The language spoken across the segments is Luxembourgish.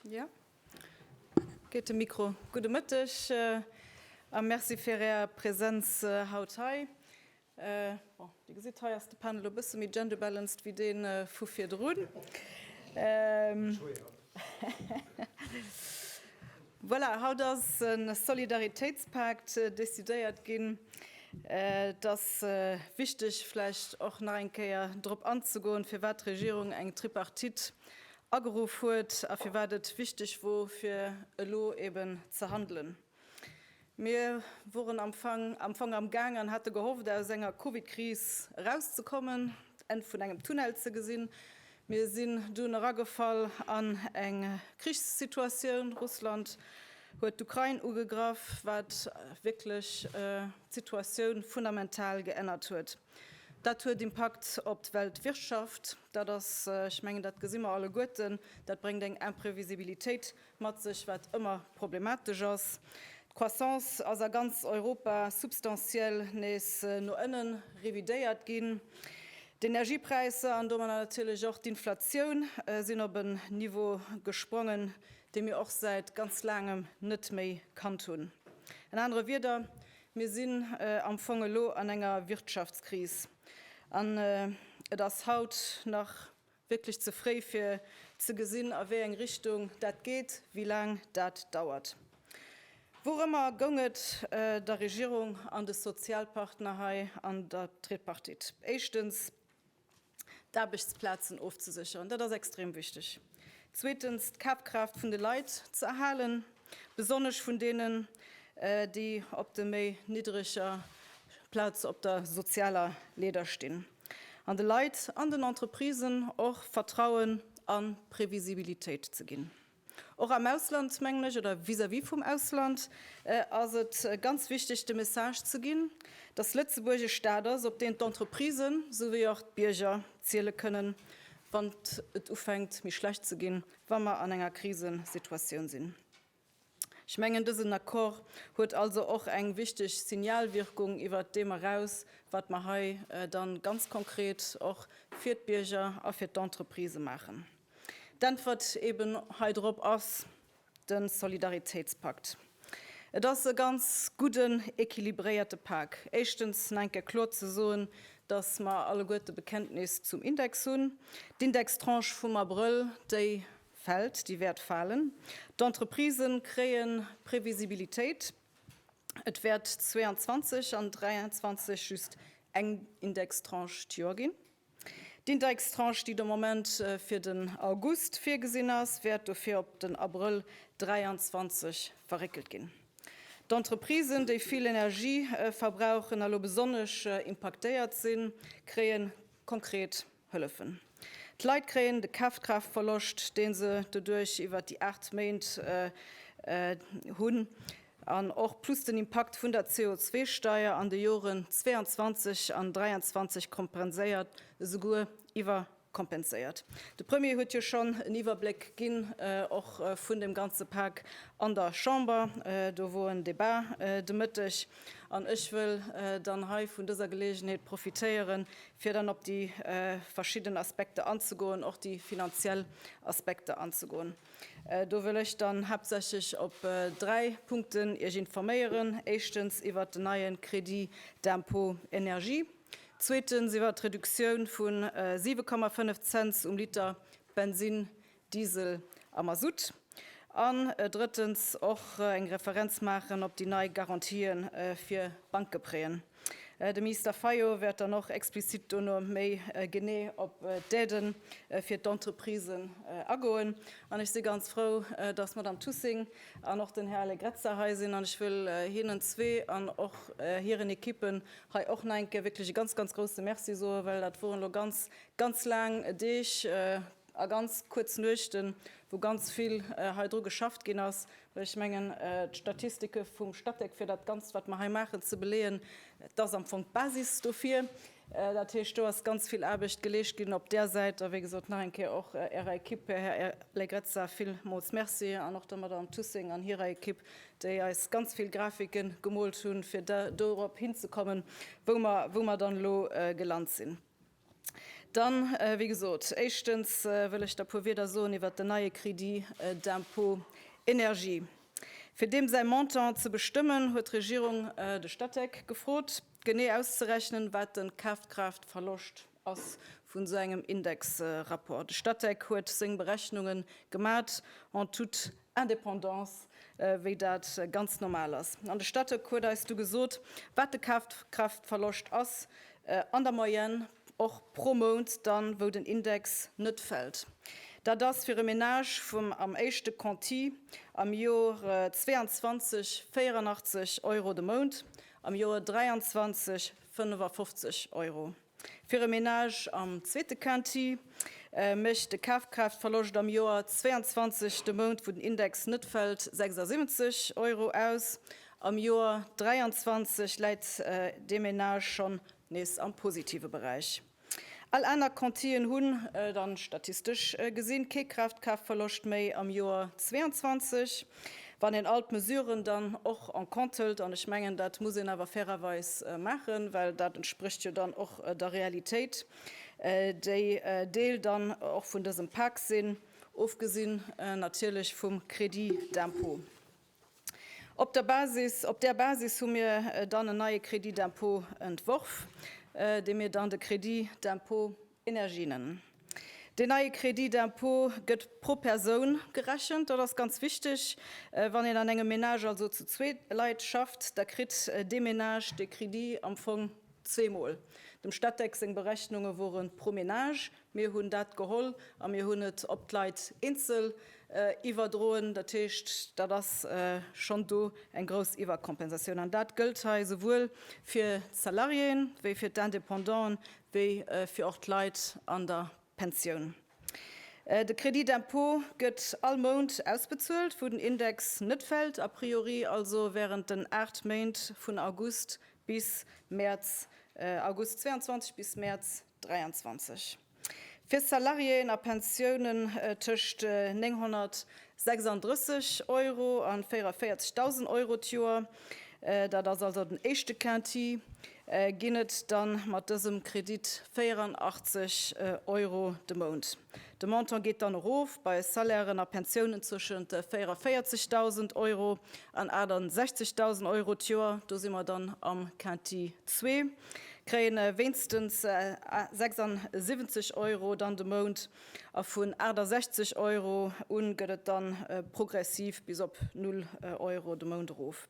Ja, geet de Mikro. Gudde Mëtteg a Merci fir Är Präsenz haut hei. Bon, Dir gesitt, hei ass de Panel e bësse méi genderbalanced wéi dee vu virdrun. Voilà, haut ass e Solidaritéitspakt decidéiert ginn. Et ass wichteg vläicht och nach eng Kéier drop anzegoen, firwat d'Regierung eng Tripartite ageruff huet a firwat et wichteg wor, fir elo eben ze handelen. Mir woren am Fong am Fong am Gaang an hate gehofft aus enger Covid-Kris erauszekommen, d'Enn vun engem Tunnel ze gesinn. Mir sinn dunn eragefall an eng Krichssituatioun. Russland huet d'Ukrain ugegraff, wat wierklech d'Situatioun fundamental geännert huet. Dat huet Impakt op d'Weltwirtschaft. Dat ass, ech mengen, dat gesi mer alleguerten, dat bréngt eng Imprevisibilitéit Mat sech, wat ëmmer problematesch ass. D'Croissance ass a ganz Europa substantiell nees no ënne revidéiert ginn. D'Energiepräisser an domadder natierlech och d'Inflatioun sinn op en Niveau gesprongen, dee mir och säit ganz laangem net méi kannt hunn. An anere Wieder, mir sinn am Fong elo an enger Wirtschaftskris an et ass haut nach, Wierklech ze fréi fir ze gesinn a wéi eng Richtung dat geet, wéi laang dat dauert. Wourëmmer goung et der Regierung an de Sozialpartner hei an der Tripartite? Éischtens d'Aarbechtsplazen ofzesécheren, dat ass extrem wichteg. Zweetens d'Kafkraaft vun de Leit ze erhalen, besonnesch vun deenen, déi op de méi niddreger Plaze op der sozialer Leeder stinn. an de Leit an den Entreprisen och Vertrauen a Previsibilitéit ze ginn. Och am Ausland, mengen ech, oder vis-à-vis vum Ausland ass et ganz wichteg, de Message ze ginn, dass Lëtzebuerg e Stat ass, op deen d'Entreprisen souwéi och d'Bierger ziele kënnen, wann et ufänkt méi schlecht ze ginn, wa mer an enger Krisesituatioun sinn. Ech mengen, dësen Accord huet also och eng wichteg Signalwirkung iwwert deem eraus, wat mer hei dann ganz konkret och fir d'Bierger a fir d'Entreprisë maachen. D'Äntwert eeben hei drop ass de Solidaritéitspakt. Et ass e ganz gudden, équilibréierte Pak. Éischtens nach eng Kéier kloer ze soen, dass mer alleguerte Bekenntnis zum Index hunn. D'Indextranche vum Abrëll, déi Fält, déi wäert falen. D'Entreprisë kréie Previsibilitéit. Et wäert 2022 an 2023 just eng Indextranche d'Joer ginn. D'Indextranche, déi de Moment fir den August virgesinn ass, wäert dofir op den Abrëll 2023 verréckelt ginn. D'Entreprisen, déi vill Energie verbrauchen a lo besonnesch impaktéiert sinn, kréie konkret Hëllefen. D'Leit kréien de Kafkraaftverloscht, dee se doduerch iwwert déi 8 Méint hunn, an och plus den Impakt vun der CO2-Steier an de Joren 22 an 23 kompenséiert, esouguer iwwerkompenséiert. De Premier huet jo schonn en Iwwerbléck ginn, och vun deem ganze Pak an der Chamber. Do wor en Debat de Mëtteg. An ech wëll dann hei vun dëser Geleegenheet profitéieren, fir dann op déi verschidden Aspekter anzegoen, och déi finanziell Aspekter anzegoen. Do wëll ech dann haaptsächlech op dräi Punkten Iech informéieren, éischtens iwwert den neie Crédit d'impôt énergie, zweetens iwwert d'Reduktioun vu 7,5 Cents um Liter Bensinn Diesel a Masutt, an drëttens och eng Referenz maachen op déi nei Garantië fir Bankgepreeën. De Minister Fayot wäert dann och explizit dono méi genee op d'Aidë fir d'Entreprisen agoen. An ech si ganz frou, dass d'Madame Thussing an och den Här Allegrezza hei sinn, an ech wëll hinnen zwee an och hiren Ekippen hei och nach eng Kéier wierklech e ganz, ganz grouse Merci soen, well dat woren elo ganz, ganz laang Deeg, A ganz kuerz Nuechten, wou ganz vill hei dru geschafft ginn ass, well ech mengen, d'Statistike vum Statec, fir dat Ganzt, wat mer hei maachen, ze beleeën, dat ass am Fong d'Basis dofir. Dat heescht, do ass ganz vill Aarbecht geleescht ginn op där Säit. A wéi gesot, nach eng Kéier och Ärer Ekipp, Här Allegrezza, villmools Merci an och der Madamm Tussing an hirer Ekipp, déi eis ganz vill Grafike gemoolt hunn, fir dorop hinzekommen, wou mer dann elo gelant sinn. Dann, wéi gesot, éischtens wëll ech da puer Wieder soen iwwert den neie Crédit d'impôt énergie. Fir deem säi Montant ze bestëmmen, huet d'Regierung de Statec gefrot, genee auszerechnen, wat de Kafkraaftverloscht ass vun esou engem Indexrapport. De Statec huet seng Berechnunge gemat, en toute Indépendance, wéi dat ganz normal ass. An de Statec huet eis du gesot, wat de Kafkraaftverloscht ass an der Moyenne, och pro Mount dann, wou den Index net fält. Dat ass fir e Menage vum am éischte Conti am Jor 22 84 Euro de Mount, am Jor 23 55 Euro. Fir e Menage am zweete Quinty mécht de Kafkraaftverloscht am Joer 22, de Mount wou den Index net fält, 76 Euro aus. Am Joer 23 läit dee Menage schonn nees am positive Beräich. All aner Quintyen hunn dann statistesch gesinn kee Kraaftkraaftverloscht méi am Joer 22. Wann een all d'Mesuren dann och en compte hëlt, an ech mengen, dat muss een awer fairerweis maachen, well dat entsprécht jo dann och der Realitéit, déi Deel dann och vun dësem Pak sinn, ofgesinn natierlech vum Crédit d'impôt. Op der Basis, op där Basis hu mir dann en neie Crédit d'impôt entworf, dee mir dann de Crédit d'impôt, Energinen. Deen neie Crédit d'impôt gëtt pro Persoun gerechent. Dat ass ganz wichteg. Wann een an engem Menage, also zu zwee Leit schafft, da kritt dee Menage dee Crédit am Fong zweemol. Dem Statec seng Berechnunge wore pro Menage. Mir hunn dat geholl a mir hunn et op d'Leit eenzel iwwerdroen. Dat heescht, dat ass schonn do eng grouss Iwwerkompensatioun. An dat gëllt hei souwuel fir d'Salariéen wéi fir d'Independanten, wéi fir och d'Leit an der Pensioun. De Crédit d'impôt gëtt all Mount ausbezuelt, wou den Index net fält, a priori also wärend den aacht Méint vun August bis Mäerz, August 22 bis Mäerz 23. Fir Salariéeën a Pensiounen tëscht 936 Euro a 44.000 Euro d'Joer, dat ass also den éischte Quinti, ginn et dann mat dësem Kredit 84 Euro de Mount. De Montant geet dann erof bei Salairen a Pensiounen zwëschent 44.000 Euro an 68.000 Euro d'Joer. Do si mer dann am Quinti zwee, kréien wéinstens 76 Euro dann de Mount a vun 68 Euro un gëtt et dann progressiv bis op null Euro de Mount erof.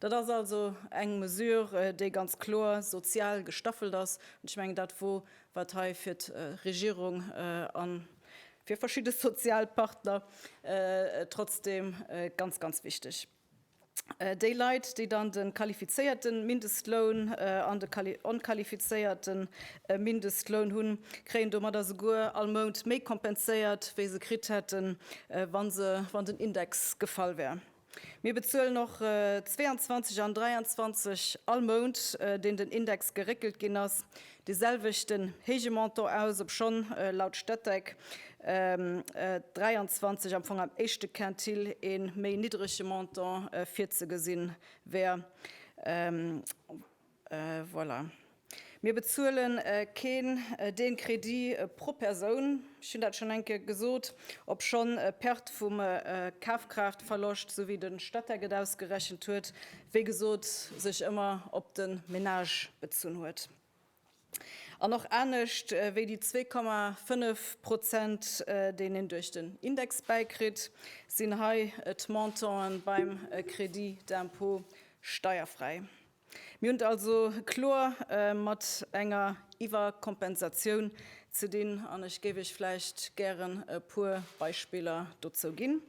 Dat ass also eng Mesure, déi ganz kloer sozial gestaffelt ass. An ech mengen, dat wor, wat hei fir d'Regierung a fir verschidde Sozialpartner trotzdem ganz, ganz wichteg. Déi Leit, déi dann de qualifizéierte Mindestloun an de onqualifizéierte Mindestloun hunn, kréien domadder souguer all Mount méi kompenséiert, wéi se kritt hätten, wa den Index gefall wär. Mir bezuelen och 22 an 23 all Mount, deen den Index geréckelt ginn ass, dee selwechten héije Montant aus, obschonn laut Statec 23 am Fong am éischte Quintile e méi niddrege Montant virzegesinn wär. Voilà. Mir bezuele keen dee Crédit pro Persoun, ech hunn dat schonn eng Kéier gesot, obschonn d'Perte vum Kafkraaftverloscht, esou wéi de Statec et ausgerechent huet, wéi gesot, sech ëmmer op de Menage bezunn huet. An och anescht wéi déi zwee Komma fënnef Prozent, déi een duerch den Index bäikritt, sinn hei d'Montanten beim Crédit d'impôt steierfräi. Mir hunn et also kloer mat enger Iwwerkompensatioun ze dinn, an ech géif Iech vläicht gären e puer Beispiller dozou ginn.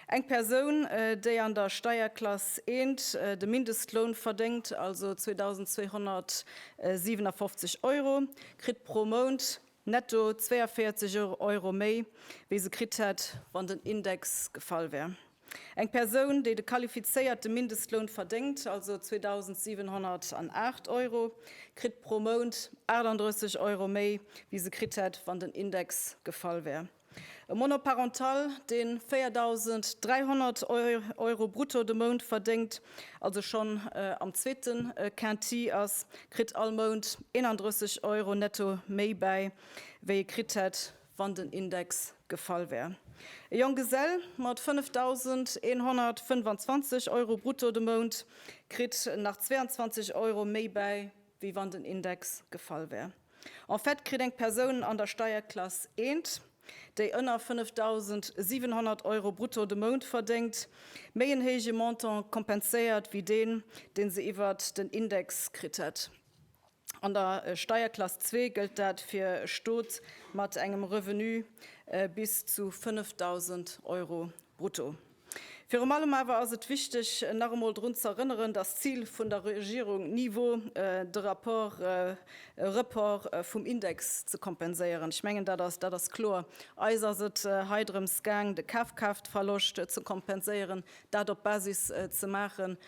Eng Persoun, déi an der Steierklass 1 de Mindestloun verdéngt, also 2.257 Euro, kritt pro Mount netto 42 Euro méi, wéi se kritt hätt, wann den Index gefall wär. Eng Persoun, déi de qualifizéierte Mindestloun verdéngt, also 2.708 Euro, kritt pro Mount 38 Euro méi, wéi se kritt hätt, wann den Index gefall wär. E Monoparental, dee 4.300 Euro brutto de Mount verdéngt, also schonn am zweete Quinti ass, kritt all Mount 31 Euro netto méi bäi, wéi e kritt hätt, wann den Index gefall wär. E Jonggesell mat 5.125 Euro brutto de Mount kritt nach 22 Euro méi bäi, wéi wann den Index gefall wär. En fait kritt eng Persoun an der Steierklass I, déi ënner 5.700 Euro brutto de Mount verdéngt, méi en héije Montant kompenséiert wéi deen, dee se iwwert den Index kritt hätt. An der Steierklass zwee gëllt dat fir e Stot mat engem Revenu bis zu 5.000 Euro brutto. Virum allem awer ass et wichteg, nach emol drun z'erënneren, dass d'Zil vun der Regierung ni wor, de Rapport, e Report vum Index ze kompenséieren. Ech mengen, dat ass, dat ass kloer. Eis ass et hei drëms gaang, de Kafkraaftverloscht ze kompenséieren, dat op Basis ze maachen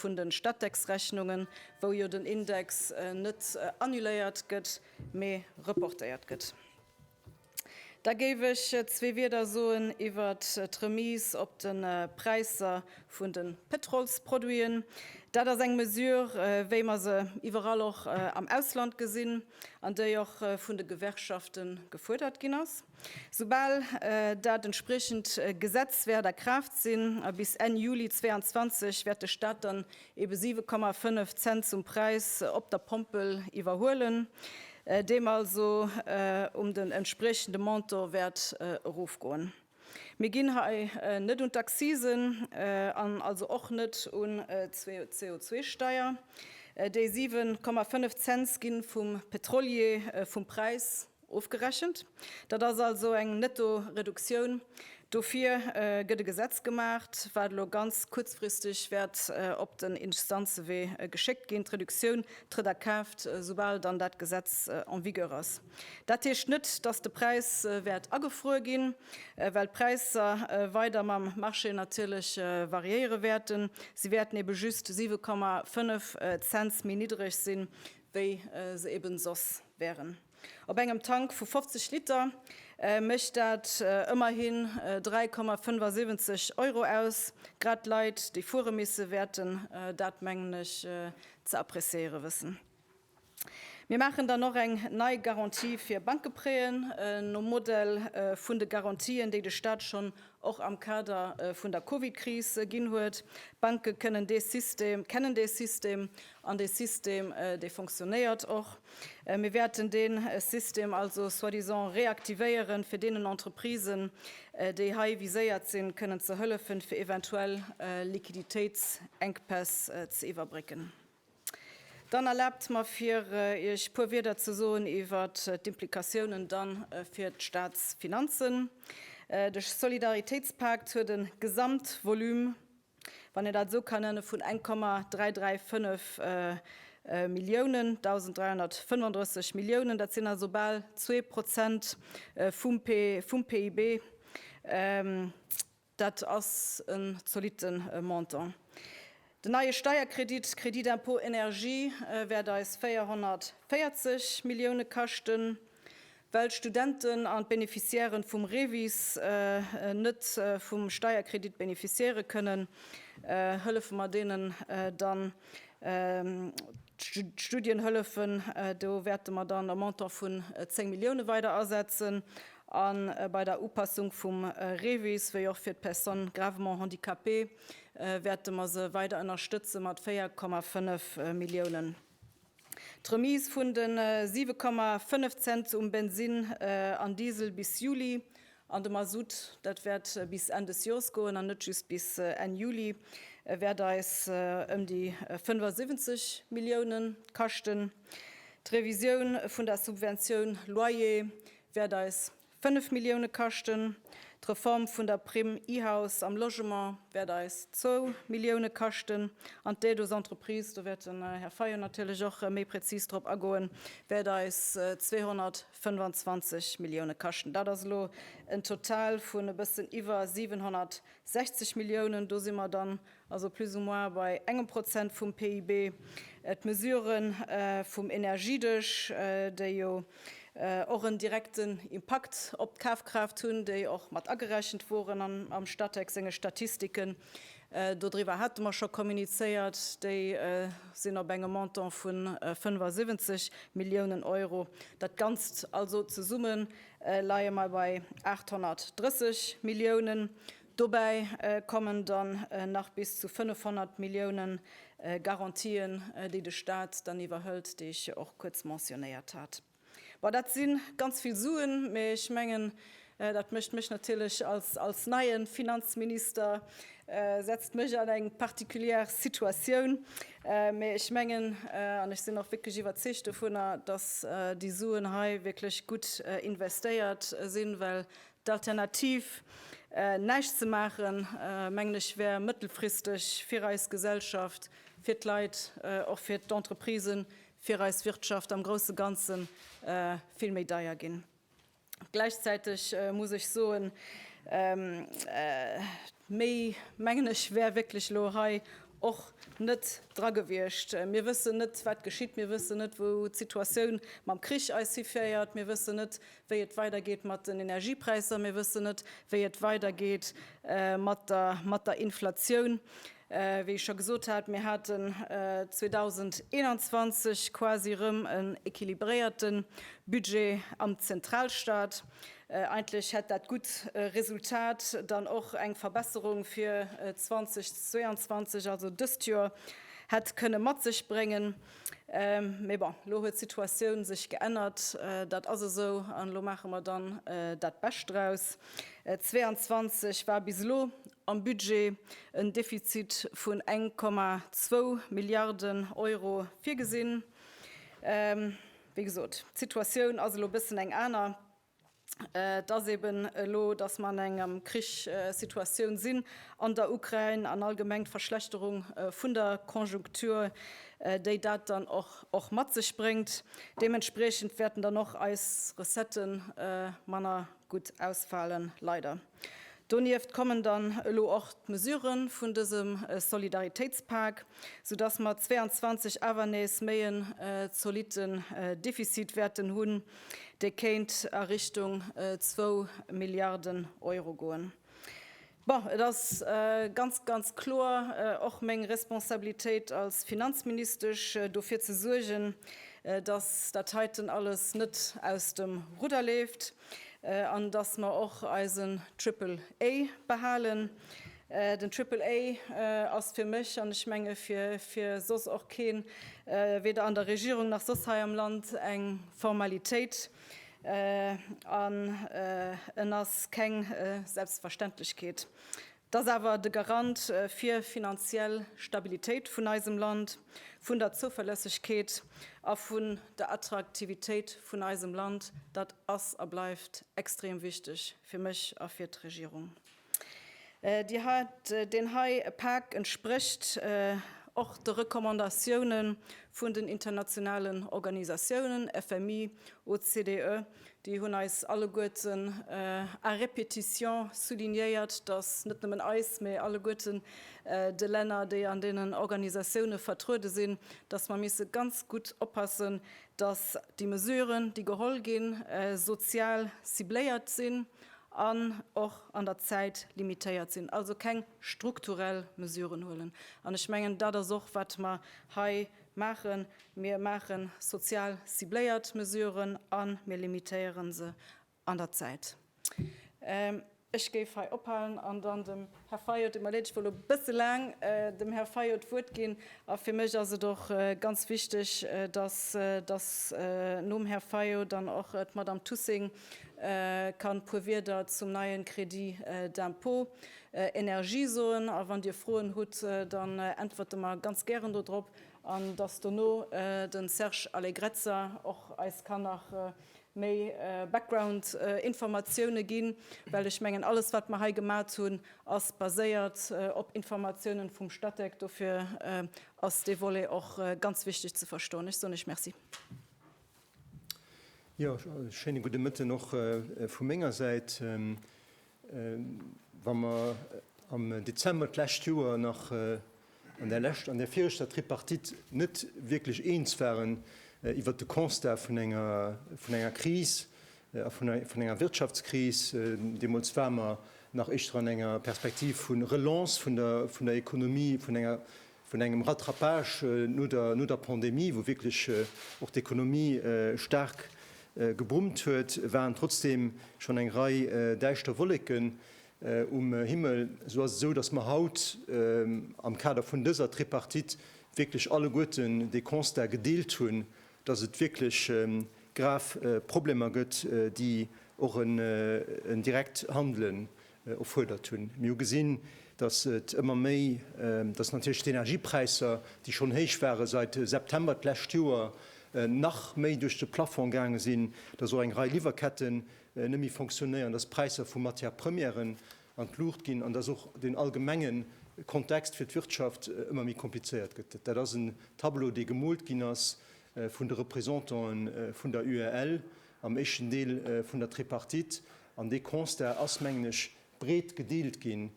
vun de Stattex-Rechnungen, wou jo den Index net annuléiert gëtt, mee reportéiert gëtt. Da géif ech zwee Wieder soen iwwer d'Remise op de Präisser vun de Pétrolsproduiten. Dat ass eng Mesure, wéi mer se iwwerall och am Ausland gesinn an déi och vun de Gewerkschafte gefuerdert ginn ass. Soubal dat entspriechend Gesetz wäert a Kraaft sinn, a bis Enn Juli 22, wäert de Staat dann ebe 7,5 Cent zum Präis op der Pompel iwwerhuelen, deem also um den entspriechende Montant wäert erofgoen. Mir ginn hei net un d'Accisen an also och net un d'CO2-Steier. Déi 7,5 Cents gi vum Pétrolier vum Präis Ofgerechent. Dat ass also eng Nettoreduktioun. Dofir gëtt e Gesetz gemaacht, wat elo ganz kuerzfristeg wäert op den Instanzewee geschéckt ginn. D'Reduktioun trëtt a Kraaft, soubal dann dat Gesetz en vigueur ass. Dat heescht net, dass de Präis wäert agefruer ginn, well d'Präisser weider mam Marché natierlech variéiere wäerten. Si wäerten ebe just 7,5 Cents méi niddreg sinn, wéi se ebe soss wären. Op engem Tank vu 50 Liter mécht dat ëmmerhin 3,75 Euro aus. Grad d'Leit, déi fuere misse wäerten dat, mengen ech, ze appreciéiere wëssen. Mir maachen dann och eng nei Garantie fir Bankeprêten nom Modell vun de Garantien, déi de Stat schonn och am Kader vun der Covid-Kris ginn huet. D'Banke kënnen dee System, kennen dee System an dee System, dee fonctionnéiert och. Mir wäerten dee System also soi-disant reaktivéieren, fir deenen Entreprisen, déi hei viséiert sinn, kënnen ze hëllefen, fir eventuell Liquiditéitsenkpäss ze iwwerbrécken. Dann erlaabt mer, fir Iech e puer Wierder ze soen iwwer d'Implikatiounen dann fir d'Staatsfinanzen. De Solidaritéitspakt huet e Gesamtvolume, wann een dat esou kann nennen, vun 1,335 Milliounen, 1.335 Milliounen. Dat sinn also bal zwee Prozent vum PIB. Dat ass e zolitte Montant. Den neie Steierkredit, Crédit d'impôt énergie, wäert eis 440 Millioune kaschten, well d'Studenten an d'Beneficiairen vum REVIS net vum Steierkredit beneficiéiere kënnen, hëllefe mer deenen dann. D'Studienhëllefen, do wäerte mer dann e Montant vun 10 Millioune weider asetzen. A bei der Upassung vum REVIS, wéi och fir d'Personnes gravement handicapées, wäerte mer se weider ënnerstëtze mat 4,5 Milliounen. D'Remise vun de 7,5 Cent um Bensinn an Diesel bis Juli. An de Masutt, dat wäert bis Enn des Joers goen an net just bis Enn Juli, wäert eis ëm déi 75 Millioune kaschten. D'Revisioun vun der Subventioun Loyer wäert eis 5 Millioune kaschten. D'Reform vun der Primm E-House am Logement wäert eis zwou Millioune kaschten. An d'Aide aux entreprises, do wäert den Här Fayot natierlech och méi prezis drop agoen, wäert eis 250 25 Millioune kaschten. Dat ass elo en Total vun e bëssen iwwer 760 Milliounen. Do si mer dann also plus ou moins bei engem Prozent vum PIB. D'Mesurë vum Energiedesch, déi jo och en direkten Impakt op d'Kafkraaft hunn, déi och mat agerechent woren am Statec senge Statistiken, Dodriwwer hate mer scho kommunizéiert. Déi sinn op engem Montant vu 75 Milliounen Euro. Dat Ganzt also zesumme leie mer bei 830 Milliounen. Dobäi kommen dann nach bis zu 500 Millioune Garantien, déi de Stat dann iwwerhëlt, déi ech jo och kuerz mentionéiert hat. Bon, dat si ganz vill Suen, mä ech mengen, dat mécht mech natierlech als neie Finanzminister, setzt mech an eng particulière Situatioun. Mä ech mengen, an ech sinn och wierklech iwwerzeegt dovunner, datt déi Suen hei wierklech gutt investéiert sinn, well d'Alternativ, näischt ze maachen, mengen ech, wär mëttelfristeg fir eis Gesellschaft, fir d'Leit, och fir d'Entreprisen fir eis Wirtschaft am grousse Ganze vill méi deier ginn. Gläichzäiteg muss ech soen, méi, mengen ech, wär wierklech elo hei och net dra gewiescht. Mir wëssen net, wat geschitt, mir wëssen net, wou d'Situatioun mam Krich eis hiféiert, mir wëssen net, wéi et weidergeet mat den Energiepräisser, mir wëssen net, wéi et weidergeet mat der Inflatioun. Wéi ech scho gesot hat, mir haten 2021 quasi erëm en équilibréierte Budget am Zentralstaat. Eigentlech hätt dat gutt Resultat dann och eng Verbesserung fir 2022, also dëst Joer, hätt kënne mat sech bréngen. Mee bon, elo huet d'Situatioun sech geännert, dat ass esou an elo maache mer dann dat Bescht draus. 22 war bis elo am Budget en Defizit vun 1,2 Milliarden Euro virgesinn. Wéi gesot, d'Situatioun ass elo e bëssen eng aner. Et ass eben elo, datt mer an enger Krichssituatioun sinn an der Ukrain an allgemeng d'Verschlechterung vun der Konjunktur, déi dat dann och mat sech bréngt. Deementspriechend wäerten dann och eis Recetten manner gutt ausfalen, leider. Donieft kommen dann elo och d'Mesurë vun dësem Solidaritéitspak, soudass mer 22 awer nees méi en zolitten Defizit wäerten hunn, dee kéint a Richtung zwou Milliarden Euro goen. Bon, et ass ganz, ganz kloer och meng Responsabilitéit als Finanzministesch, dofir ze suergen, dass dat heiten alles net aus dem Rudder leeft. An datt mer och eisen Triple A behalen. Den Triple A ass fir mech, an ech menge fir soss och keen, weder an der Regierung nach soss hei am Land, eng Formalitéit. An en ass keng Selbstverständlechkeet. Et ass awer de Garant fir finanziell Stabilitéit vun eisem Land, vun der Zouverlässegkeet a vun der Attraktivitéit vun eisem Land. Dat ass a bleift extrem wichteg fir mech a fir d'Regierung. Deen hei Pak entsprécht och de Recommandatioune vun den internationalen Organisatiounen, FMI, OCDE. Déi hunn eis alleguerten à répétition soulignéiert, datt net nëmmen eis, mee alleguerten de Länner, déi an deenen Organisatioune vertruede sinn, datt mer misse ganz gutt oppassen, datt déi Mesuren, déi geholl ginn, sozial cibléiert sinn an och an der Zäit limitéiert sinn. Also keng strukturell Mesuren huelen. An ech mengen, dat ass och, wat mer hei maachen. Mir maache sozial cibléiert Mesuren a mir limitéiere se an der Zäit. Ech géif hei ophalen an dann dem Här Fayot, et mir leed, ech wollt elo e bësse laang dem Här Fayot d'Wuert ginn. A fir mech ass et och ganz wichteg, dass, dass nom Här Fayot dann och d'Madame Thussing kann e puer Wieder zum neie Crédit d'impôt Energie soen. A wann Dir Froen hutt, da äntwerte mer ganz gären dodrop. An dass dono de Serge Allegrezza och eis kann nach méi Backgroundinformatioune ginn, well ech mengen, alles, wat mer hei gemat hunn, ass baséiert op Informatiounen vum Statec. Dofir ass dee Volet och ganz wichteg ze verstoen. Ech soen Iech Merci. Jo, schéine gudde Mëtten och vu menger Säit. Wa mer am Dezember d'lescht Joer nach an där lescht, an där viregter Tripartite net wierklech eens waren iwwert de Constat vun enger, vun enger Kris, a vun, vun enger Wirtschaftskris, deemools ware mer nach éischter an enger Perspektiv vu Relance vun der, vun der Économie, vun enger vun engem Rattrapage no der Pandemie, wou wierklech och d'Ekonomie staark geboomt huet, waren trotzdeem schonn eng Rei däischter Wolleken um Himmel. Esou ass et esou, datt mer haut am Kader vun dëser Tripartite wierklech alleguerten de Constat gedeelt hunn, datt et wierklech grav Problemer gëtt, déi och en direkt Handelen Opfuerdert hunn. Mir hu gesinn, dass et ëmmer méi, dass natierlech d'Energiepräisser, déi schonn héich ware seit September d'lescht Joer, nach méi duerch de Plafond gaange sinn, dass och eng Rei Liwwerketten net méi fonctionnéieren, dass d'Präisser vu Matières premièren an d'Luucht ginn an dass och den allgemenge Kontext fir d'Wirtschaft ëmmer méi komplizéiert gëtt. Dat ass en Tableau, dee gemoolt ginn ass vun de Représentanten vun der UEL am éischten Deel vun der Tripartite. An dee Constat ass, mengen ech, breet gedeelt ginn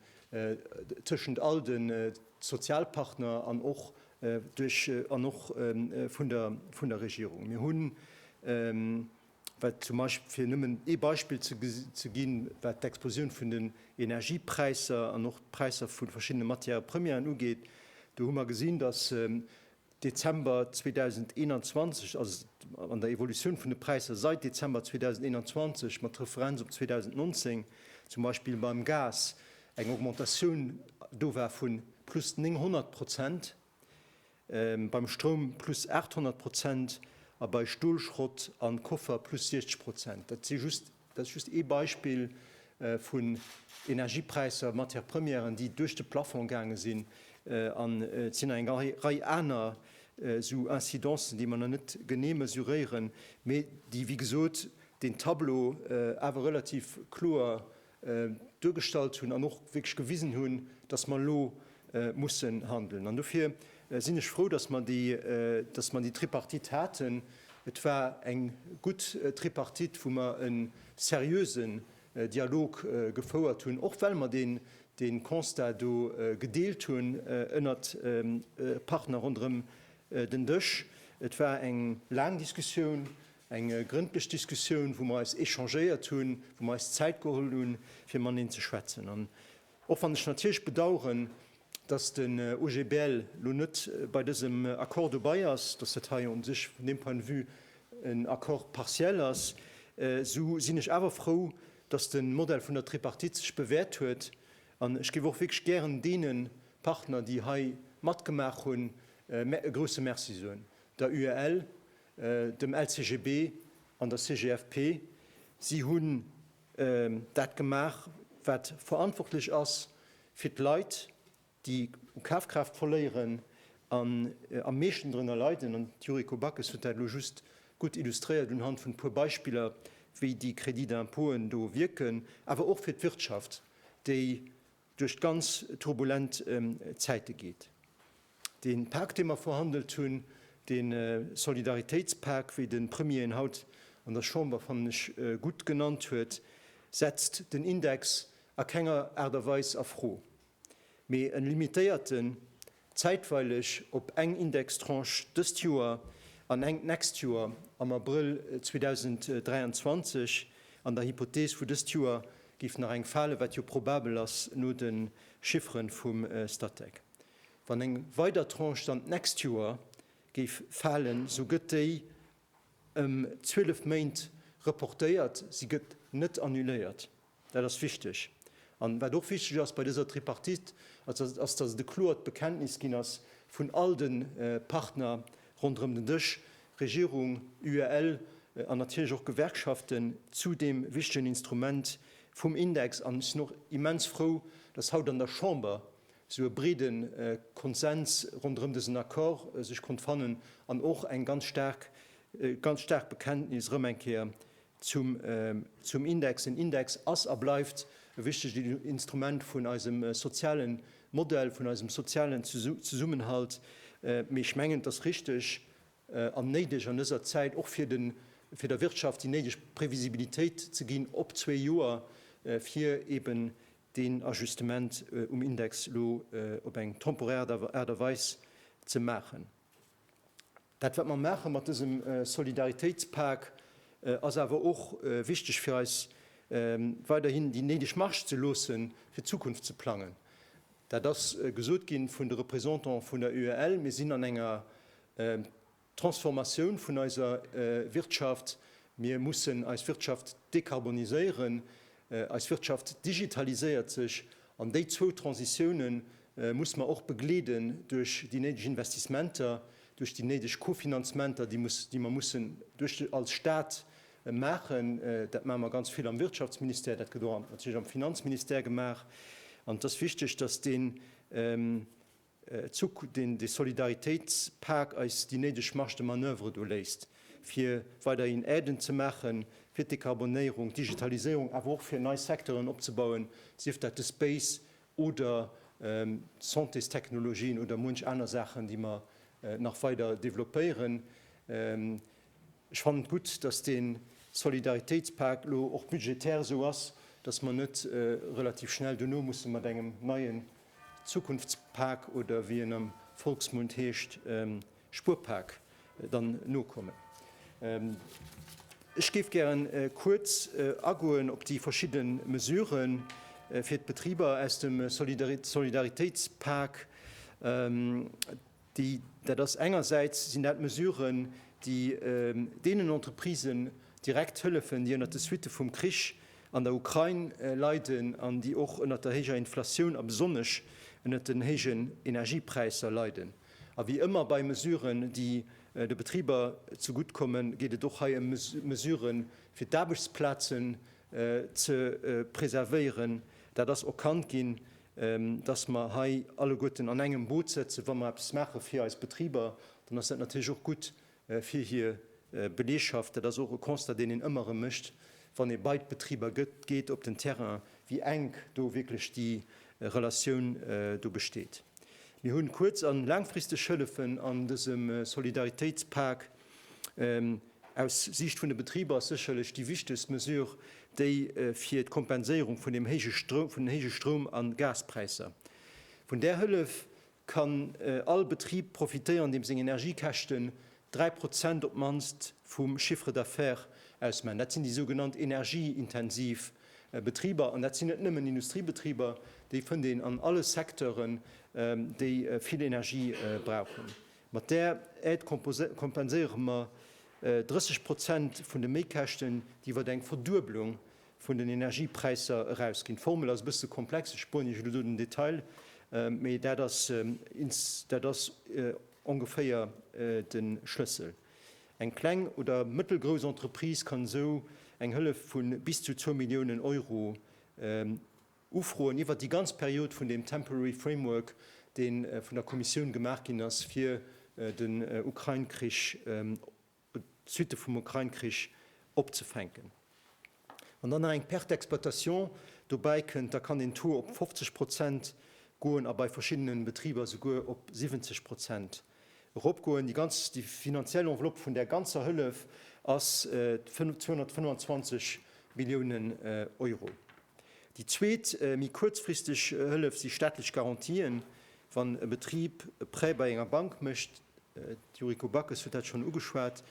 tëschent all de Sozialpartner an och duerch an och vun der Regierung. Mir hunn, wat zum Beispill, fir nëmmen ee Beispill ze ginn, wat d'Explosioun vun den Energiepräisser an och d'Präisser vu verschiddene Matières-premièren ugeet, do hu mer gesinn, dass Dezember 2021, also an der Evolutioun vun de Präisser seit Dezember 2021 mat Referenz op 2019, zum Beispill beim Gas eng Augmentatioun do war vu plus 900 Prozent, beim Stroum plus 800 Prozent a bei Stolschrott a Koffer plus 60 Prozent. Dat si just. Dat ass just ee Beispill vun Energiepräisser, Matières premièren, déi duerch de Plafond gaange sinn. An et sinn nach eng Rei aner esou Incidencen, déi mer nach net genee mesuréieren, mee déi, wéi gesot, deen Tableau awer relativ kloer duergestallt hunn an och wierklech gewisen hunn, dass mer elo mussen handeln. An dofir sinn ech frou, dass mer déi Tripartite haten. Et war eng gutt Tripartite, wou mer e seriösen Dialog gefouert hunn, och well mer dee Constat do gedeelt hunn ënnert Partner ronderëm den Dësch. Et war eng laang Diskussioun, eng grëndlech Diskussioun, wou mer eis échangéiert hunn, wou mer eis Zäit geholl hunn, fir mateneen ze schwätzen. Och wann ech natierlech bedauern, dass den OGBL elo net bei dësem Accord dobei ass, dass dat hei u sech vun deem Point de vue en Accord partiel ass, esou sinn ech awer frou, dass de Modell vun der Tripartite sech bewährt huet. An ech géif och wierklech gären deene Partner, déi hei matgemaach hunn, e grouse Merci soen, der UEL, dem LCGB an der CGFP. Si hunn. dat gemaach, wat verantwortlech ass fir d'Leit, déi u Kafkraaft verléieren an am meeschten drënner leiden. An d'Yuriko Backes huet dat elo just gutt illustréiert unhand vun e puer Beispiller, wéi déi Crédit d'impôten do wierken, awer och fir d'Wirtschaft, déi duerch d'ganz turbulent Zäite geet. Dee Pak, dee mer verhandelt hunn, dee Solidaritéitspak, wéi de Premier en haut an der Chamber, fannen ech, gutt genannt huet, setzt den Index a kenger Aart a Weis a Fro, mee e limitéiert en, zäitweileg op eng Indextranche dëst Joer an eng d'nächst Joer, am Abrëll 2023. An der Hypothees vu dëst Joer géif nach eng falen, wat jo probabel ass no de Chiffere vum Statec. Wann eng weider Tranche dann d'nächst Joer géif falen, esou gëtt déi ëm 12 Méint reportéiert, si gëtt net annuléiert. Dat ass wichteg. An wat och wichteg ass bei dëser Tripartite, ass, dass et e kloert Bekenntnis ginn ass vun all de Partner ronderëm den Dësch, Regierung, UEL an natierlech och Gewerkschaften, zu deem wichtegen Instrument vum Index. An ech sinn och immens frou, dass haut an der Chamber esou e breede Konsens ronderëm dësen Accord sech konnt fannen an och eng ganz staark, ganz staark Bekenntnis erëm eng Kéier Zum Index, Den Index ass a bleift e wichtegt Instrument vun eisem soziale Modell, vun eisem sozialen Zesummenhalt, mee ech mengen, et ass richteg an néideg an dëser Zäit, och fir der Wirtschaft déi néideg Previsibilitéit ze ginn op zwee Joer, fir eben deen Ajustement um Index elo op eng temporär Aart a Weis ze maachen. Dat wat mer maache mat dësem Solidaritéitspak ass awer och wichteg fir eis weiderhin déi néideg Marge ze loosse fir d'Zukunft ze plangen. Dat ass gesot gi vun de Représentant vun der UEL. Mir sinn an enger Transformatioun vun eiser Wirtschaft. Mir mussen eis Wirtschaft dekarboniséieren. Eis Wirtschaft digitaliséiert sech, an déi zwou Transitioune musse mer och begleeden duerch déi néideg Investissementer, duerch déi néideg Kofinanzementer, déi mer mussen als Stat maachen. Dat maache mer ganz vill am Wirtschaftsministère, dat gëtt och natierlech am Finanzministère gemaach. An et ass wichteg, datt deen. Zu deen de Solidaritéitspak eis déi néideg Marge de manoeuvre do léisst, fir weiderhin Aiden ze maache fir d'Dekarbonéierung, d'Digitaliséierung, awer och fir nei Secteuren opzebauen, sief dat de Space oder d'Santésstechnologien oder munch aner Saachen, déi mer nach weider développéieren. Ech fannen et gutt, dass dee Solidaritéitspak elo och budgetär esou ass, dass mer net relativ schnell dono musse mat engem neie Zukunftspak oder wéi en am Volksmund heescht, Spuerpak, dann nokommen. Ech géif gären kuerz agoen op déi verschidde Mesurë fir d'Betriber aus dem Solidaritéitspak. Déi, dat ass engersäits sinn dat Mesuren, déi deenen Entreprisen direkt hëllefen, déi ënner de Suitte vum Krich an der Ukrain leiden an déi och ënner der héijer Inflatioun a besonnesch ënner den héijen Energiepräisser leiden. A wéi ëmmer bei Mesuren, déi de Betriber zegutt kommen, geet et och hei ëm Mesuren, fir d'Aarbechtsplazen ze preservéieren. Dat ass erkannt ginn, datt mer hei alleguerten an engem Boot sëtzen. Wa mer eppes maache fir eis Betriber, dann ass dat natierlech och gutt fir hir Belegschaft. Dat ass och e Constat, deen een ëmmer erëm mécht, wann ee bei d'Betriber geet op den Terrain, wéi enk do wierklech déi Relatioun do besteet. Mir hu kuerz a laangfristeg Hëllefen an dësem Solidaritéitspak. Aus Siicht vun de Betriber ass sécherlech déi wichtegst Mesure déi fir d'Kompenséierung vun den héije Stroum a Gaspräisser. Vun där Hëllef kann all Betrib profitéieren, deem seng Energiekäschten 3 Prozent op d'mannst vum Chiffre d'affaires ausmaachen. Dat sinn déi sougenannt energieintensiv Betriber. An dat sinn net nëmmen Industriebetriber, déi fënnt een an alle Secteuren, déi vill Energie brauchen. Mat där Aide kompenséiere mer 30 Prozent vun de Méikäschten, déi iwwer eng Verdueblung vun den Energiepräisser erausginn. D'Formel ass e bësse komplex, ech spueren Iech elo do den Detail, mee dat ass, dat ass ongeféier de Schlëssel. Eng kleng oder mëttelgrouss Entreprise kann esou eng Hëllef vu bis zu zwou Milliounen Euro Ufroen iwwert déi ganz Period vun deem Temporary Framework, dee vun der Kommissioun gemaach ginn ass, fir den Ukrain-Krich, d'Suitte vum Ukrain-Krich opzefänken. Wann dann nach eng Perte d'exploitation dobäi kënnt, da kann den Taux op 50 Prozent goen a bei verschiddene Betriber esouguer op 70 Prozent. Eropgoen. Déi ganz, déi finanziell Enveloppe vun där ganzer Hëllef ass 225 Milliounen Euro. Déi zweet, méi kuerzfristeg Hëllef si staatlech Garantien, wann e Betrib e Prêt bei enger Bank mécht, d'Yuriko Backes huet dat schonn ugeschwat,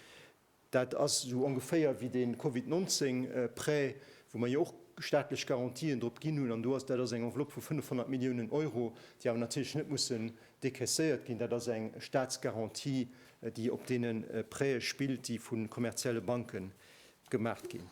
Dat ass esou ongeféier wéi dee Covid 19 Prêt, wou mer jo och staatlech Garantien drop ginn hunn. An do ass, dat ass eng Enveloppe vu 500 Milliounen Euro, déi awer natierlech net mussen decaisséiert ginn. Dat ass eng Staatsgarantie, déi op deene Prête spillt, déi vu kommerzielle Banke gemaach ginn.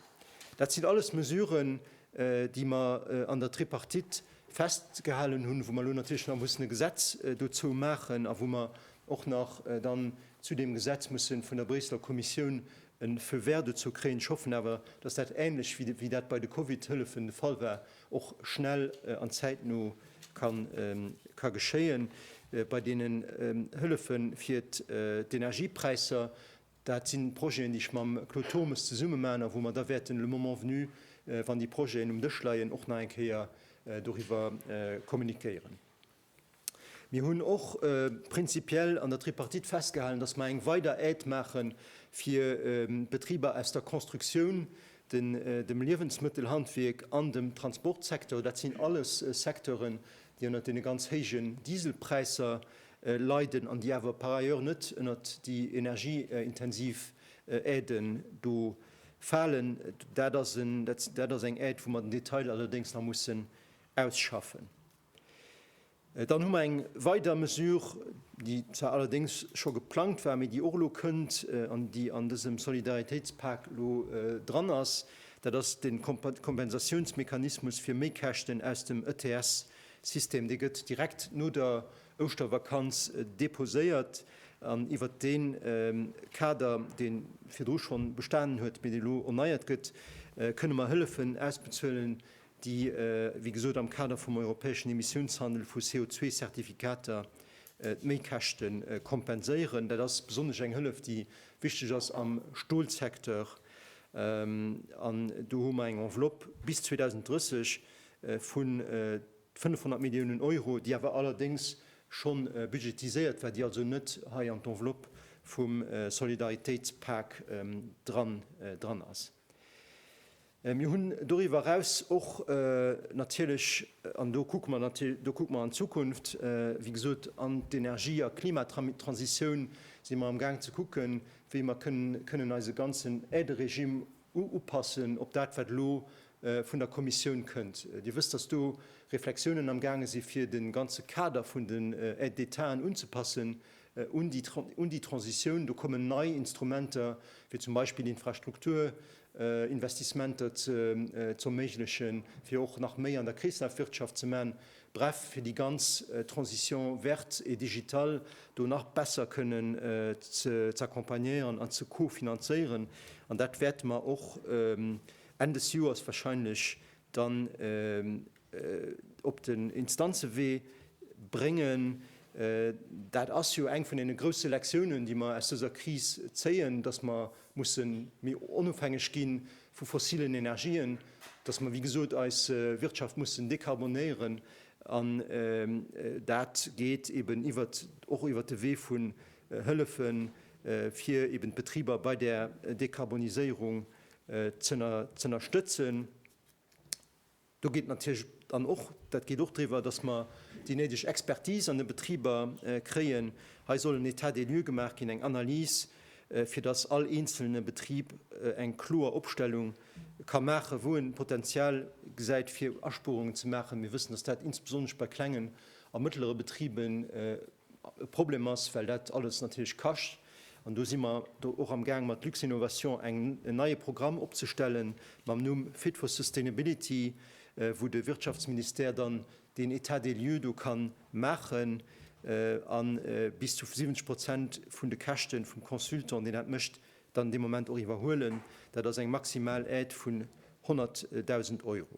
Dat sinn alles Mesuren, déi mer an der Tripartite festgehalen hunn, wou mer elo natierlech nach mussen e Gesetz dozou maachen a wou mer och nach dann Zu deem Gesetz muss e vun der Bréisseler Kommissioun e Feu vert dozou kréien. Ech hoffen awer, dass dat änlech wéi dat bei de Covid-Hëllefen de Fall war, och schnell an zäitno ka geschéien. Bei deenen Hëllefe fir d'Energiepräisser, dat si Projeten, déi ech mam Claude Turmes zesumme maachen a wou mer da wäerten le moment venu, wann déi Projeten um Dësch leien, och nach eng Kéier doriwwer kommuniquéieren. Mir hunn och prinzipiell an der Tripartite festgehalen, dass mer eng weider Aide maache fir d'Betriber aus der Constructioun, dem Liewensmëttelhandwierk an dem Transportsecteur. Dat sinn alles Secteuren, déi ënnert deene ganz héijen Dieselpräisser leiden an déi awer par ailleurs net ënnert déi energieintensiv Aiden do falen. Dat ass eng Aide, wou mer den Detail allerdéngs nach mussen ausschaffen. Dann hu mer eng weider Mesure, déi zwar allerdéngs scho geplangt war, mee déi och elo kënnt an déi an dësem Solidaritéitspak elo dran ass, dat ass de Kompensatiounsmechanismus fir Méikäschten aus dem ETS-System. Dee gëtt direkt no der Ouschtervakanz deposéiert an iwwert dee Kader, dee virdru schonn bestanen huet, mee deen elo erneiert gëtt, kënne mer hëllefen ausbezuelen, déi wéi gesot am Kader vum europäeschen Emissiounshandel vu CO2-Zertifikater d'Méikäschte kompenséieren. Dat ass besonnesch eng Hëllef, déi wichteg ass am Stolsecteur. An do hu mer eng Enveloppe bis 2030 vu 500 Milliounen Euro, déi awer allerdéngs scho budgetiséiert war, déi also net hei an d'Enveloppe vum Solidaritéitspak dran ass. Mir hunn doriwwer eraus och natierlech, an do kucke mer, do kucke mer an d'Zukunft, wéi gesot, an d'Energie a Klimatransitioun si mer amgaang ze kucken, wéi mer kënnen eise ganzen Aideregimm upassen op dat, wat elo vun der Kommissioun kënnt. Dir wësst, dass do Reflexiounen amgaange si fir de ganze Kader vun den Aides d'Étaten unzepassen un déi Transitioun. Do kommen nei Instrumenter, wéi zum Beispill Infrastrukturprogramme, Investissementer ze erméiglechen, fir och nach méi an der Kreeslafwirtschaft ze maachen, bref fir déi ganz Transition verte et digitale do nach besser kënnen z'accompagnéieren an ze co-finanzéieren. An dat wäerte mer och Enn des Joers wahrscheinlech dann op den Instanzewee bréngen. Dat ass jo eng vun deene grousse Lektiounen, déi mer aus dëser Kris zéien, dass mer musse méi onofhängeg gi vu fossilen Energien, dass mer, wéi gesot, eis Wirtschaft mussen dekarbonéieren. An dat geet eben iwwert, och iwwert de Wee vun Hëllefen, fir eben d'Betriber bei där Dekarboniséierung z'ënnerstëtzen. Do geet natierlech dann och, dat geet och driwwer, dass mer déi néideg Expertise an de Betriber kréien. Hei soll en État des lieux gemaach ginn, eng Analys, fir dass all eenzelne Betrib eng kloer Opstellung ka maachen, wou en Potenzial gesäit, fir Aspuerungen ze maachen. Mir wëssen, dass dat insbesonnesch bei klengen a mëttlere Betriben, e Problem ass, well dat alles natierlech kascht. An do si mer do och amgaang mat Luxinnovation eng, en neie Programm opzestellen mam Numm Fit for Sustainability, wou de Wirtschaftsministère dann deen État des lieux do ka maachen a bis zu 70 Prozent vun de Käschte vum Consultant, deen dat mécht, dann dee Moment och iwwerhuelen. Dat ass eng maximal Aide vun 100.000 Euro.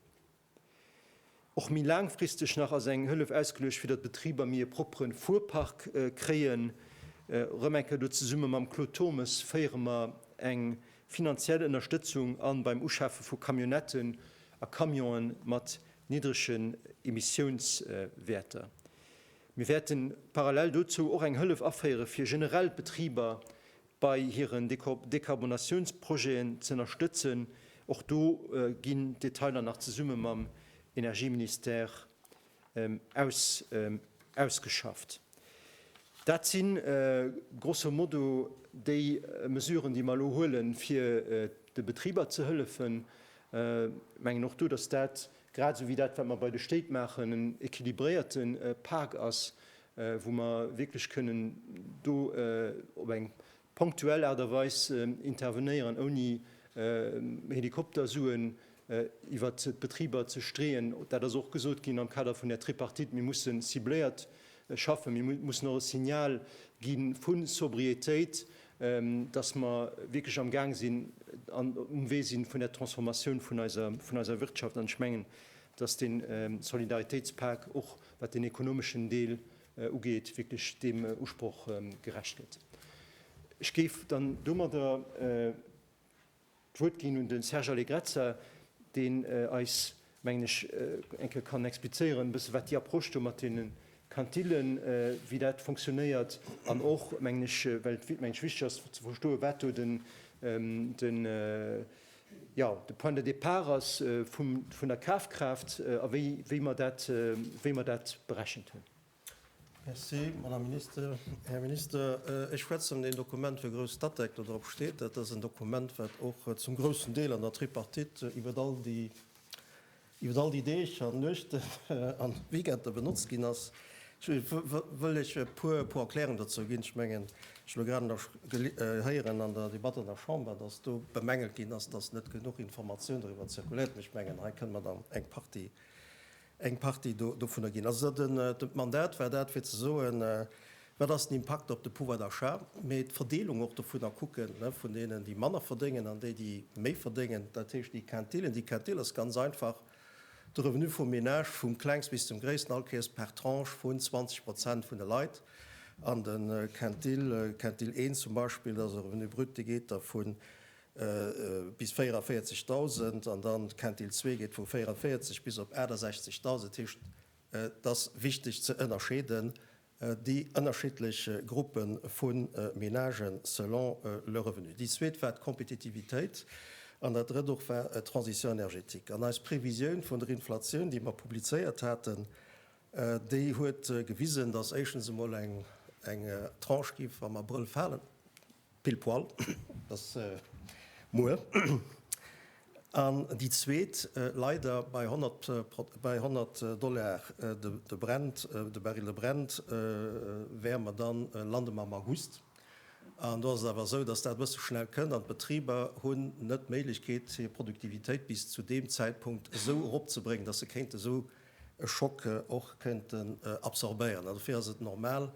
Och méi laangfristeg nach ass eng Hëllef ausgeluecht, fir datt d'Betriber méi e proppere Fuerpark kréien. Erëm eng Kéier do zesumme mam Claude Turmes féiere mer eng finanziell Ënnerstëtzung an beim Uschafe vu Camionnetten a Camionë mat niddregen Emissiounswäerter. Mir wäerten parallel dozou och eng Hëllef aféiere fir generell d'Betriber bei hiren Dekarbonatiounsprojeten ze ënnerstëtzen. Och do ginn d'Detailer nach zesumme mam Energieministère ausgeschafft. Dat si grosso modo déi Mesuren, déi mer elo huele fir de Betriber ze hëllefen. Ech mengen och do, datt dat, grad esou wéi dat, wat mer bei de Stéit maachen, en équilibréierte Pak ass, wou mer wierklech kënnen do op eng ponktuell Aart a Weis intervenéieren, ouni Helikoptersuen iwwert d'Betriber ze streeën. Dat ass och gesot ginn am Kader vun der Tripartite, Mir mussen cibléiert schaffen, mir mussen och e Signal gi vu Sobriétéit, datt mer wierklech am Gaang sinn an um Wee si vun der Transformatioun vun eiser Wirtschaft. An ech mengen, datt dee Solidaritéitspak och wat den ekonomeschen Deel ugeet, wierklech deem Usproch gerecht gëtt. Ech géif dann domadder d'Wuert ginn un de Serge Allegrezza, deen eis, mengen ech, eng Kéier kann explizéieren, e bësse wat déi Approche do mat deene Quintillen, wéi dat funktionéiert an och, mengen ech, well et, mengen ech, wichteg ass ze verstoen, wat do den, Jo, de Point de départ ass vum, vun der Kafkraaft a wéi, wéi mer dat, wéi mer dat berechent hunn. Merci, Madame Minister. Här Minister, ech schwätzen deen Dokument fir grouss Statec, do drop steet. Dat ass en Dokument, wat och zum groussen Deel an der Tripartite iwwert all déi iwwert all déi Deeg an Nuechten an Weekender benotzt ginn ass, wëll ech e puer puer Erklärungen dozou ginn. Ech mengen, ech elo grad nach héieren an der Debatt an der Chamber, dass do bemängelt ginn ass, dass net genuch Informatioun doriwwer zirkuléiert, an ech mengen, hei kënne mer dann eng Partie eng Partie dovunner ginn. Also d'Mandat war dat fir ze soen, Wat ass den Impakt op de Pouvoir d'achat, mee d'Verdeelung och dovun a kucken, vun deenen, déi manner verdéngen, an déi, déi méi verdéngen, dat heescht déi Quintilen. Déi Quintil ass ganz einfach de Revenu vum Menage, vum Klengst bis zum Gréissten, all Kéiers par Tranche vun 20 Prozent vun de Leit. An de Quintil, Quintil 1 zum Beispill, dat ass e Revenu brut, dee geet da vu bis 44.000, an dann d'Quintil 2 geet vu 44 bis op 68.000. Dat heescht, et ass wichteg ze ënnerscheeden, Déi ënnerschiddlech Gruppe vu Menagen selon le revenu. Déi zweet war d'Kompetitivitéit an dat drëtt och war d'Transition énergétique. An eis Previsioun vun der Inflatioun, déi mer publizéiert haten, déi huet gewisen, dass éischtens emol eng Tranche géif am Abrëll falen, Pile poil, dat ass muer. An déi zweet, leider bei 100, bei 100 Dollar de Brent, de Baril de Brent, wäre mer dann, lande mer am August. An do ass et awer esou, dass dat e bësse schnell kënnt an d'Betriber hunn net d'Méiglechkeet, hir Produktivitéit bis zu deem Zäitpunkt esou eropzebréngen, dass se kéinte esou e Schock och këinten absorbéieren. An dofir ass et normal,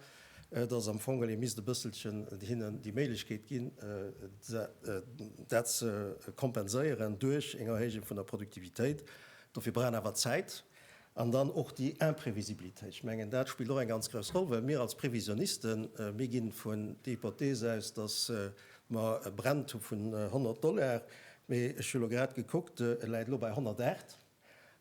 dass am Fong ee misst e bësselchen hinnen déi Méiglechkeet ginn, dat ze kompenséieren duerch eng Erhéijung vun der Produktivitéit. Dofir brauch een awer Zäit an dann och déi Imprevisibilitéit. Ech mengen, dat spillt och eng ganz grouss Roll, well mir als Previsionisten, mir gi vun der Hypothees aus, dass mer e Brent hu vun 100 Dollar, mee ech hu elo grad gekuckt, e läit elo bei 108.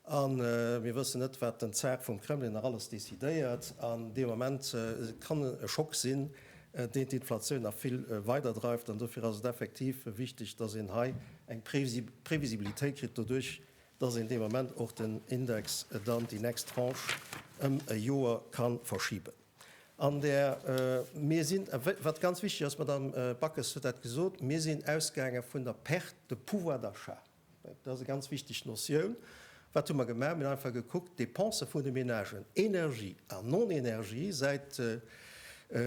A mir wëssen net, wat den Zar vum Kremlin nach alles decidéiert. An dee Moment kann e Schock sinn, deen d'Inflatioun nach vill weider dreift. An dofir ass et effektiv wichteg, dass een hei eng Previsibilitéit kritt, doduerch dass een dee Moment och den Index dann déi nächst Tranche ëm e Joer ka verschiben. An där mir sinn, wat ganz wichteg ass, d'Madamm Backes huet dat gesot, mir sinn ausgaange vun der Perte de pouvoir d'achat. Dat ass eng ganz wichteg Notioun. Wat hu mer gemaach? Mir hunn einfach gekuckt, d'Depensë vun de Menagen, Energie a Non-Energie, säit,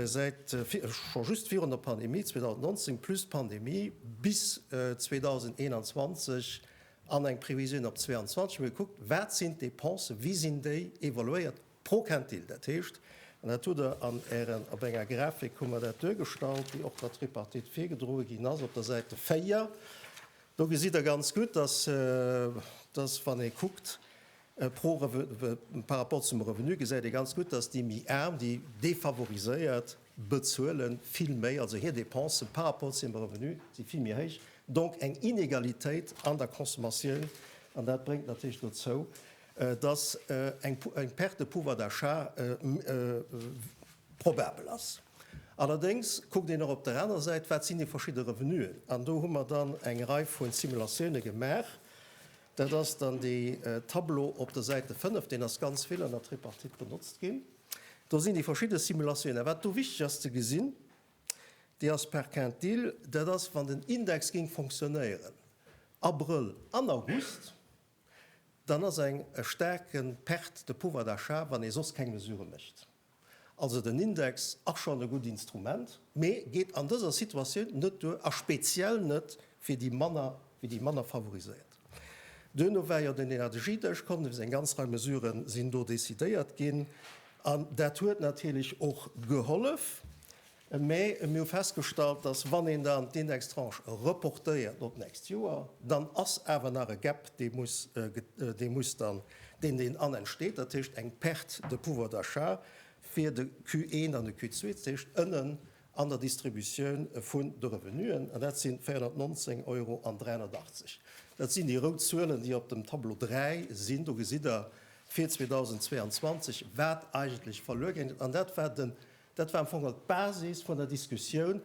säit scho just virun der Pandemie 2019 plus d'Pandemie bis 2021 an eng Previsioun op 2022, hu mer gekuckt, wat sinn d'Depensë, wéi sinn déi evoluéiert Proquintil, dat heescht, an dat hutt Der an Ären, op enger Grafik hu mer dat duergestallt, déi och der Tripartite virgedroe ginn ass, op der Säite 4, do gesitt Der ganz gutt, dass, dass wann ee kuckt pro par rapport zum Revenu, gesäit ee ganz gutt, dass déi méi Aarm, déi defavoriséiert, bezuele vill méi, also hir Dépense par rapport zu hirem Revenu si vill méi héich, donc eng Inegalitéit an der Consommatioun, an dat bréngt natierlech dozou, dass eng Perte de pouvoir d'achat probabel ass. Allerdéngs kuckt een och op der anerer Säit, wat sinn déi verschidde Revenuen. An do hu mer dann eng Rei vu Simulatioune gemaach. Dat ass dann dee Tableau op der Säite 5. Deen ass ganz vill an der Tripartite benotzt ginn. Do sinn déi verschidde Simulatioune. Wat do wichteg ass ze gesinn, déi ass par Quintile, dat ass, wann den Index géing fonctionnéieren Abrëll an August, dann ass eng e staarke Perte de pouvoir d'achat, wann ee soss keng Mesurë mécht. Also den Index ass schonn e gutt Instrument, mee geet an dëser Situatioun net duer a speziell net fir déi manner, fir déi manner favoriséiert. Duerno war jo den Energiedësch, Connefs, eng ganz Rei Mesurë sinn do decidéiert ginn an dat huet natierlech och gehollef. Mee mir hu festgestallt, dass, wann een dann d'Indextranche reportéiert op d'nächst Joer, dann ass awer nach e Gap, dee muss, dee muss dann, deen, deen an entsteet, dat heescht eng Perte de pouvoir d'achat fir de Q1 an de Q2, dat heescht ënnen an der Distributioun vun de Revenuen. An dat sinn 419 Euro an 380. Dat sinn déi rout Zuelen, déi op dem Tableau 3 sinn. Do gesitt Der fir 2022, wat eigentlech verluer gaangen. An dat war den Dat war am Fong geholl d'Basis vun der Diskussioun,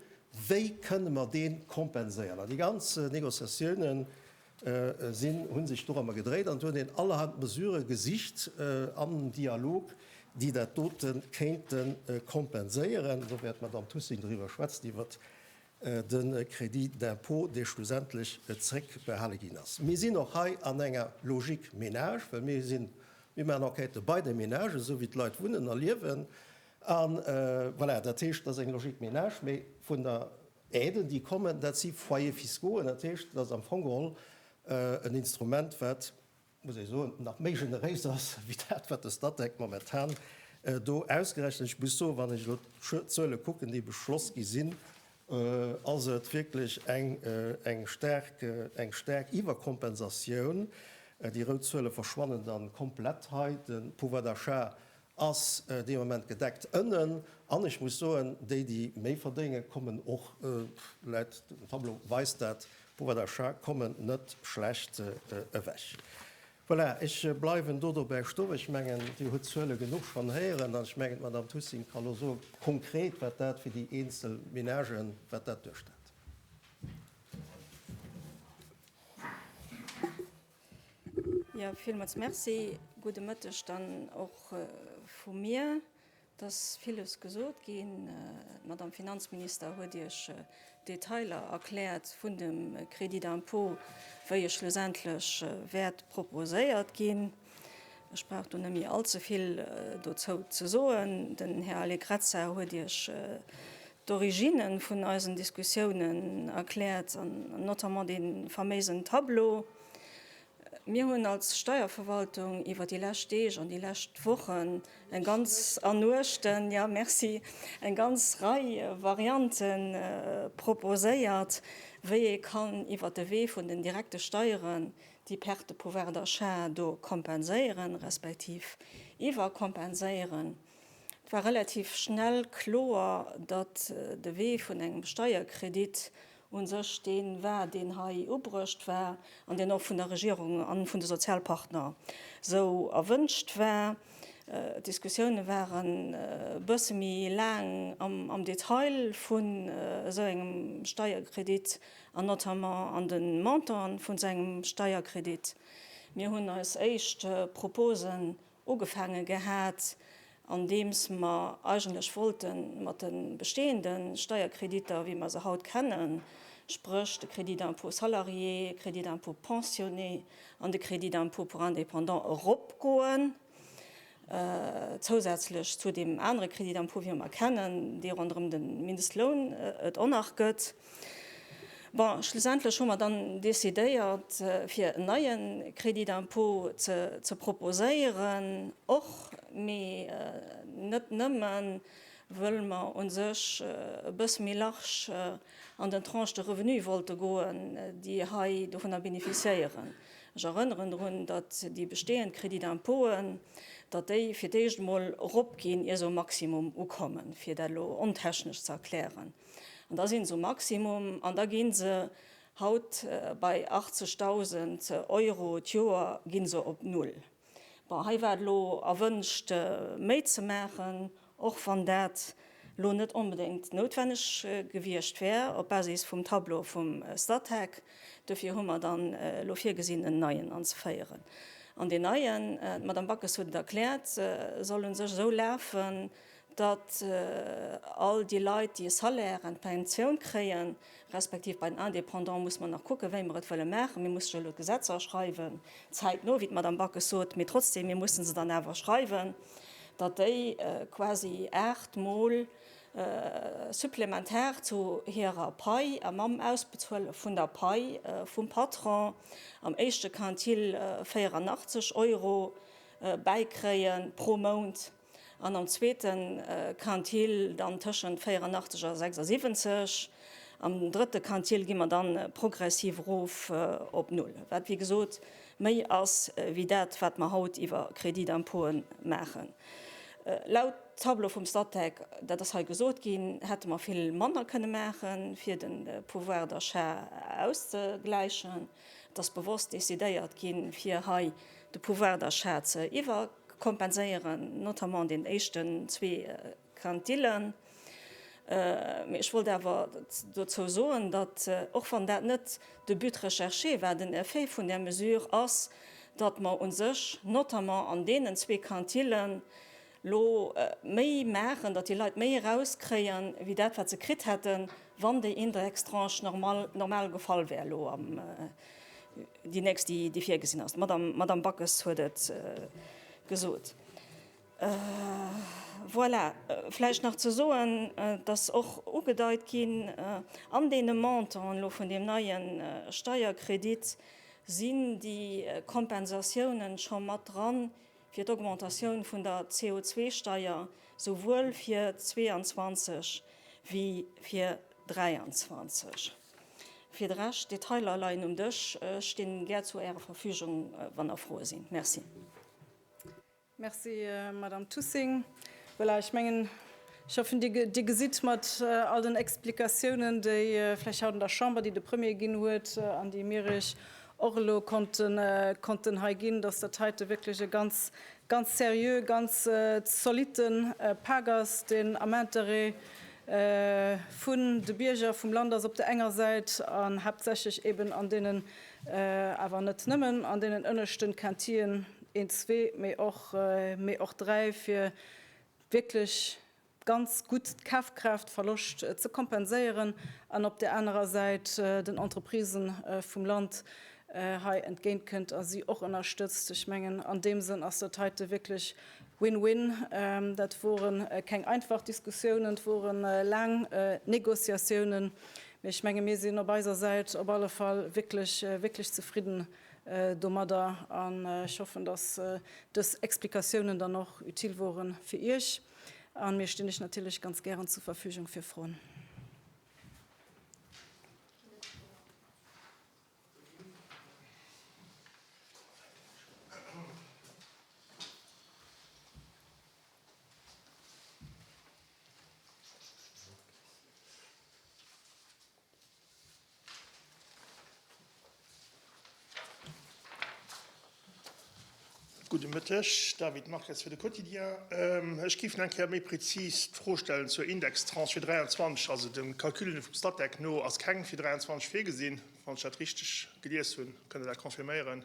wéi kënne mer dee kompenséieren. An déi ganz Négociatiounen sinn, hu sech dorëmmer gedréit an et hunn een allerhand Mesurë gesicht am Dialog, déi dat dote kéinte kompenséieren. Do wäert d'Madamm Thussing doriwwer schwätzen, iwwert de Crédit d'impôt, dee schlussendlech zréckbehale ginn ass. Mir sinn och hei an enger Logique ménage, well mir sinn, mir maachen Enquêtë bei de Ménagen, esou wéi d'Leit wunnen a liewen. A voilà, dat heescht, dat ass eng Logique ménage. Mee vun der Aide, déi kommen, dat si Foyers fiscaux. An dat heescht, dat ass am Fong geholl en Instrument, wat, muss ee soen, nach méi generéis ass wéi dat, wat de Statec momentan do ausgerechent. Ech muss soen, wann ech elo d'Zuele kucken, déi beschloss gi sinn, ass et wierklech eng staark Iwwerkompensatioun. Déi rout Zuele verschwannen da komplett hei. De Pouvoir d'achat ass dee Moment gedeckt ënnen an ech muss soen, déi déi méi verdéngen, kommen och läit, den Tableau weist dat, pouvoir d'achat, kommen net schlecht ewech. Voilà, ech bleiwen do dobäi stoen. Ech mengen, Dir hutt d'Zuele genuch schonn héieren an ech mengen, d'Madame Thussing ka lo soen, konkret wat dat fir déi eenzel Ménagen, wat dat duerstellt. Jo, villmools Merci. Gudde Mëtteg dann och vu mir. Et ass villes gesot ginn. D'Madame Finanzminister huet Iech d'Detailer erkläert vun dem Crédit d'impôt, wéi e schlussendlech wäert proposéiert ginn. Ech brauch do net méi all ze vill dozou ze soen. Den Här Allegrezza huet Iech d'Origine vun eisen Diskussiounen erkläert an notamment dee faméisen Tableau. Mir hunn als Steierverwaltung iwwer déi lescht Deeg an déi lescht Wochen eng ganz, an Nuechten, jo merci, eng ganz Rei Variante proposéiert, wéi ee kann iwwer de Wee vun den direkte Steieren déi Perte de pouvoir d'achat do kompenséieren, respektiv iwwerkompenséieren. Et war relativ schnell kloer, datt de Wee vun engem Steierkredit u sech dee war, deen hei ubruecht war an deen och vun der Regierung a vun de Sozialpartner esou erwünscht war. D'Diskussioune ware bësse méi laang am Detail vun esou engem Steierkredit an notamment an de Montanten vu sengem Steierkredit. Mir hunn eis éischt Proposen ugefaange gehat, andeems mer eigentlech wollte mat de bestehende Steierkreditter, wéi mer se haut kennen, spréch de Crédit d'impôt salarié, Crédit d'impôt pensionné an de Crédit d'impôt pour indépendants, eropgoen, zousätzlech zu deem anere Crédit d'impôt, wéi mer e kennen, dee ronderëm de Mindestloun et en nach gëtt. Bon, schlussendlech hu mer dann decidéiert, fir en neie Crédit d'impôt ze proposéieren, och, mee net nëmme wëll mer u sech e bësse méi large an den Tranches de revenus wollte goen, déi hei dovunner bénéficiéieren. Ech erënneren drun, datt déi bestehend Crédits d'impôten, datt déi fir d'éischt emol eropginn, ier se um Maximum ukommen, fir dat elo ontechnesch ze erklären. An da sinn se um Maximum an da ginn se haut bei 80.000 Euro d'Joer ginn se op Null. Bon, hei war et elo erwënscht méi ze maachen, och wann dat elo net onbedéngt noutwenneg gewiescht wär op Basis vum Tableau vum Statec. Duerfir hu mer dann elo virgesinn en neien anzeféieren. An deen neien, d'Madame Backes huet et erkläert, soll u sech esou lafen, datt all déi Leit, déi e Salaire an d'Pensioun kréien, respektiv bei den Indépendants muss mer nach kucken, wéi mer et wëlle maachen, mir mussen jo elo d'Gesetzer schreiwen, zäitno, wéi d'Madame Backes sot, mee trotzdem, mir mussen se dann awer schreiwen, datt déi quasi aacht Mol supplementar zu hirer Pai a mam Ausbezuele vun der Pai vum Patron am éischte Quintil 84 Euro bäikréie pro Mount. An am zweete Quintil dann tëschent 84 a 76. Am drëtte Quintil gi mer dann progressiv erof op Null, wat wéi gesot méi ass wéi dat, wat mer haut iwwer Crédits d'impôte maachen. Laut Tableau vum Statec, dat ass hei gesot ginn, hätte mer vill manner kënne maachen, fir de Pouvoir d'achat auszegläichen. Et ass bewosst decidéiert ginn, fir hei de Pouvoir d'achat ze iwwer. kompenséieren, notamment an den éischten zwee Quintillen. Mee ech wollt awer dozou soen, datt, och wann dat net de But recherché war, den Effet vun där Mesure ass, datt mer u sech notamment an deenen zwee Quintillen elo méi maachen, datt déi Leit méi erauskréien, wéi dat, wat se kritt hätten, wann déi Indextranche normal gefall wär elo am. Déi nächst, déi virgesinn ass, d'Madame Backes huet et gesot. Voilà, vläicht nach ze soen, et ass och ugedeit ginn, an deene Montanten elo vun deem neie Steierkredit sinn déi Kompensatiounen scho mat dran fir d'Augmentatioun vun der CO2-Steier, souwuel fir 22 wéi fir 23. Fir de Rescht, d'Detailer leien um Dësch. Ech stinn gär zu Ärer Verfügung, wann der Froe sinn. Merci. Merci, Madamm Tussing. Voilà, ech mengen, ech hoffen, Dir gesitt mat all den Explikatiounen, déi vläicht haut an der Chamber, déi de Premier ginn huet an déi mir Iech och elo konnten hei ginn, dass dat heite wierklech e ganz, ganz seriö, ganz zolitte Pak ass, deen am Interêt vun de Bierger vum Land ass op der enger Säit an haaptsächlech eeben an deenen, awer net nëmmen, an deenen ënneschten Quintillën, 1, zwee, mee och, mee och 3, fir wierklech, ganz gutt d'Kafkraaftverloscht ze kompenséieren an op där anerer Säit den Entreprisë vum Land hei entgéint kënnt a si och ënnerstëtzt. Ech mengen, an deem Sënn ass dat heite wierklech win-win. Dat wore keng einfach Diskussiounen, et wore laang Négociatiounen, mee ech menge mir sinn op eiser Säit op alle Fall wierklech, wierklech zefridden domadder an ech hoffen, dass dës Explikatiounen dann och utile wore fir Iech. An mir stinn lech natierlech ganz gären zur Verfügung fir Froen. Gudde Mëtteg, David Marques fir de Quotidien. Ech géif nach eng Kéier méi prezis d'Fro stellen zur Indextranche fir 23. Also de Calcul vum Statec no ass keng fir 23 virgesinn, wann ech dat richteg gelies hunn. Kënnt Der dat confirméieren?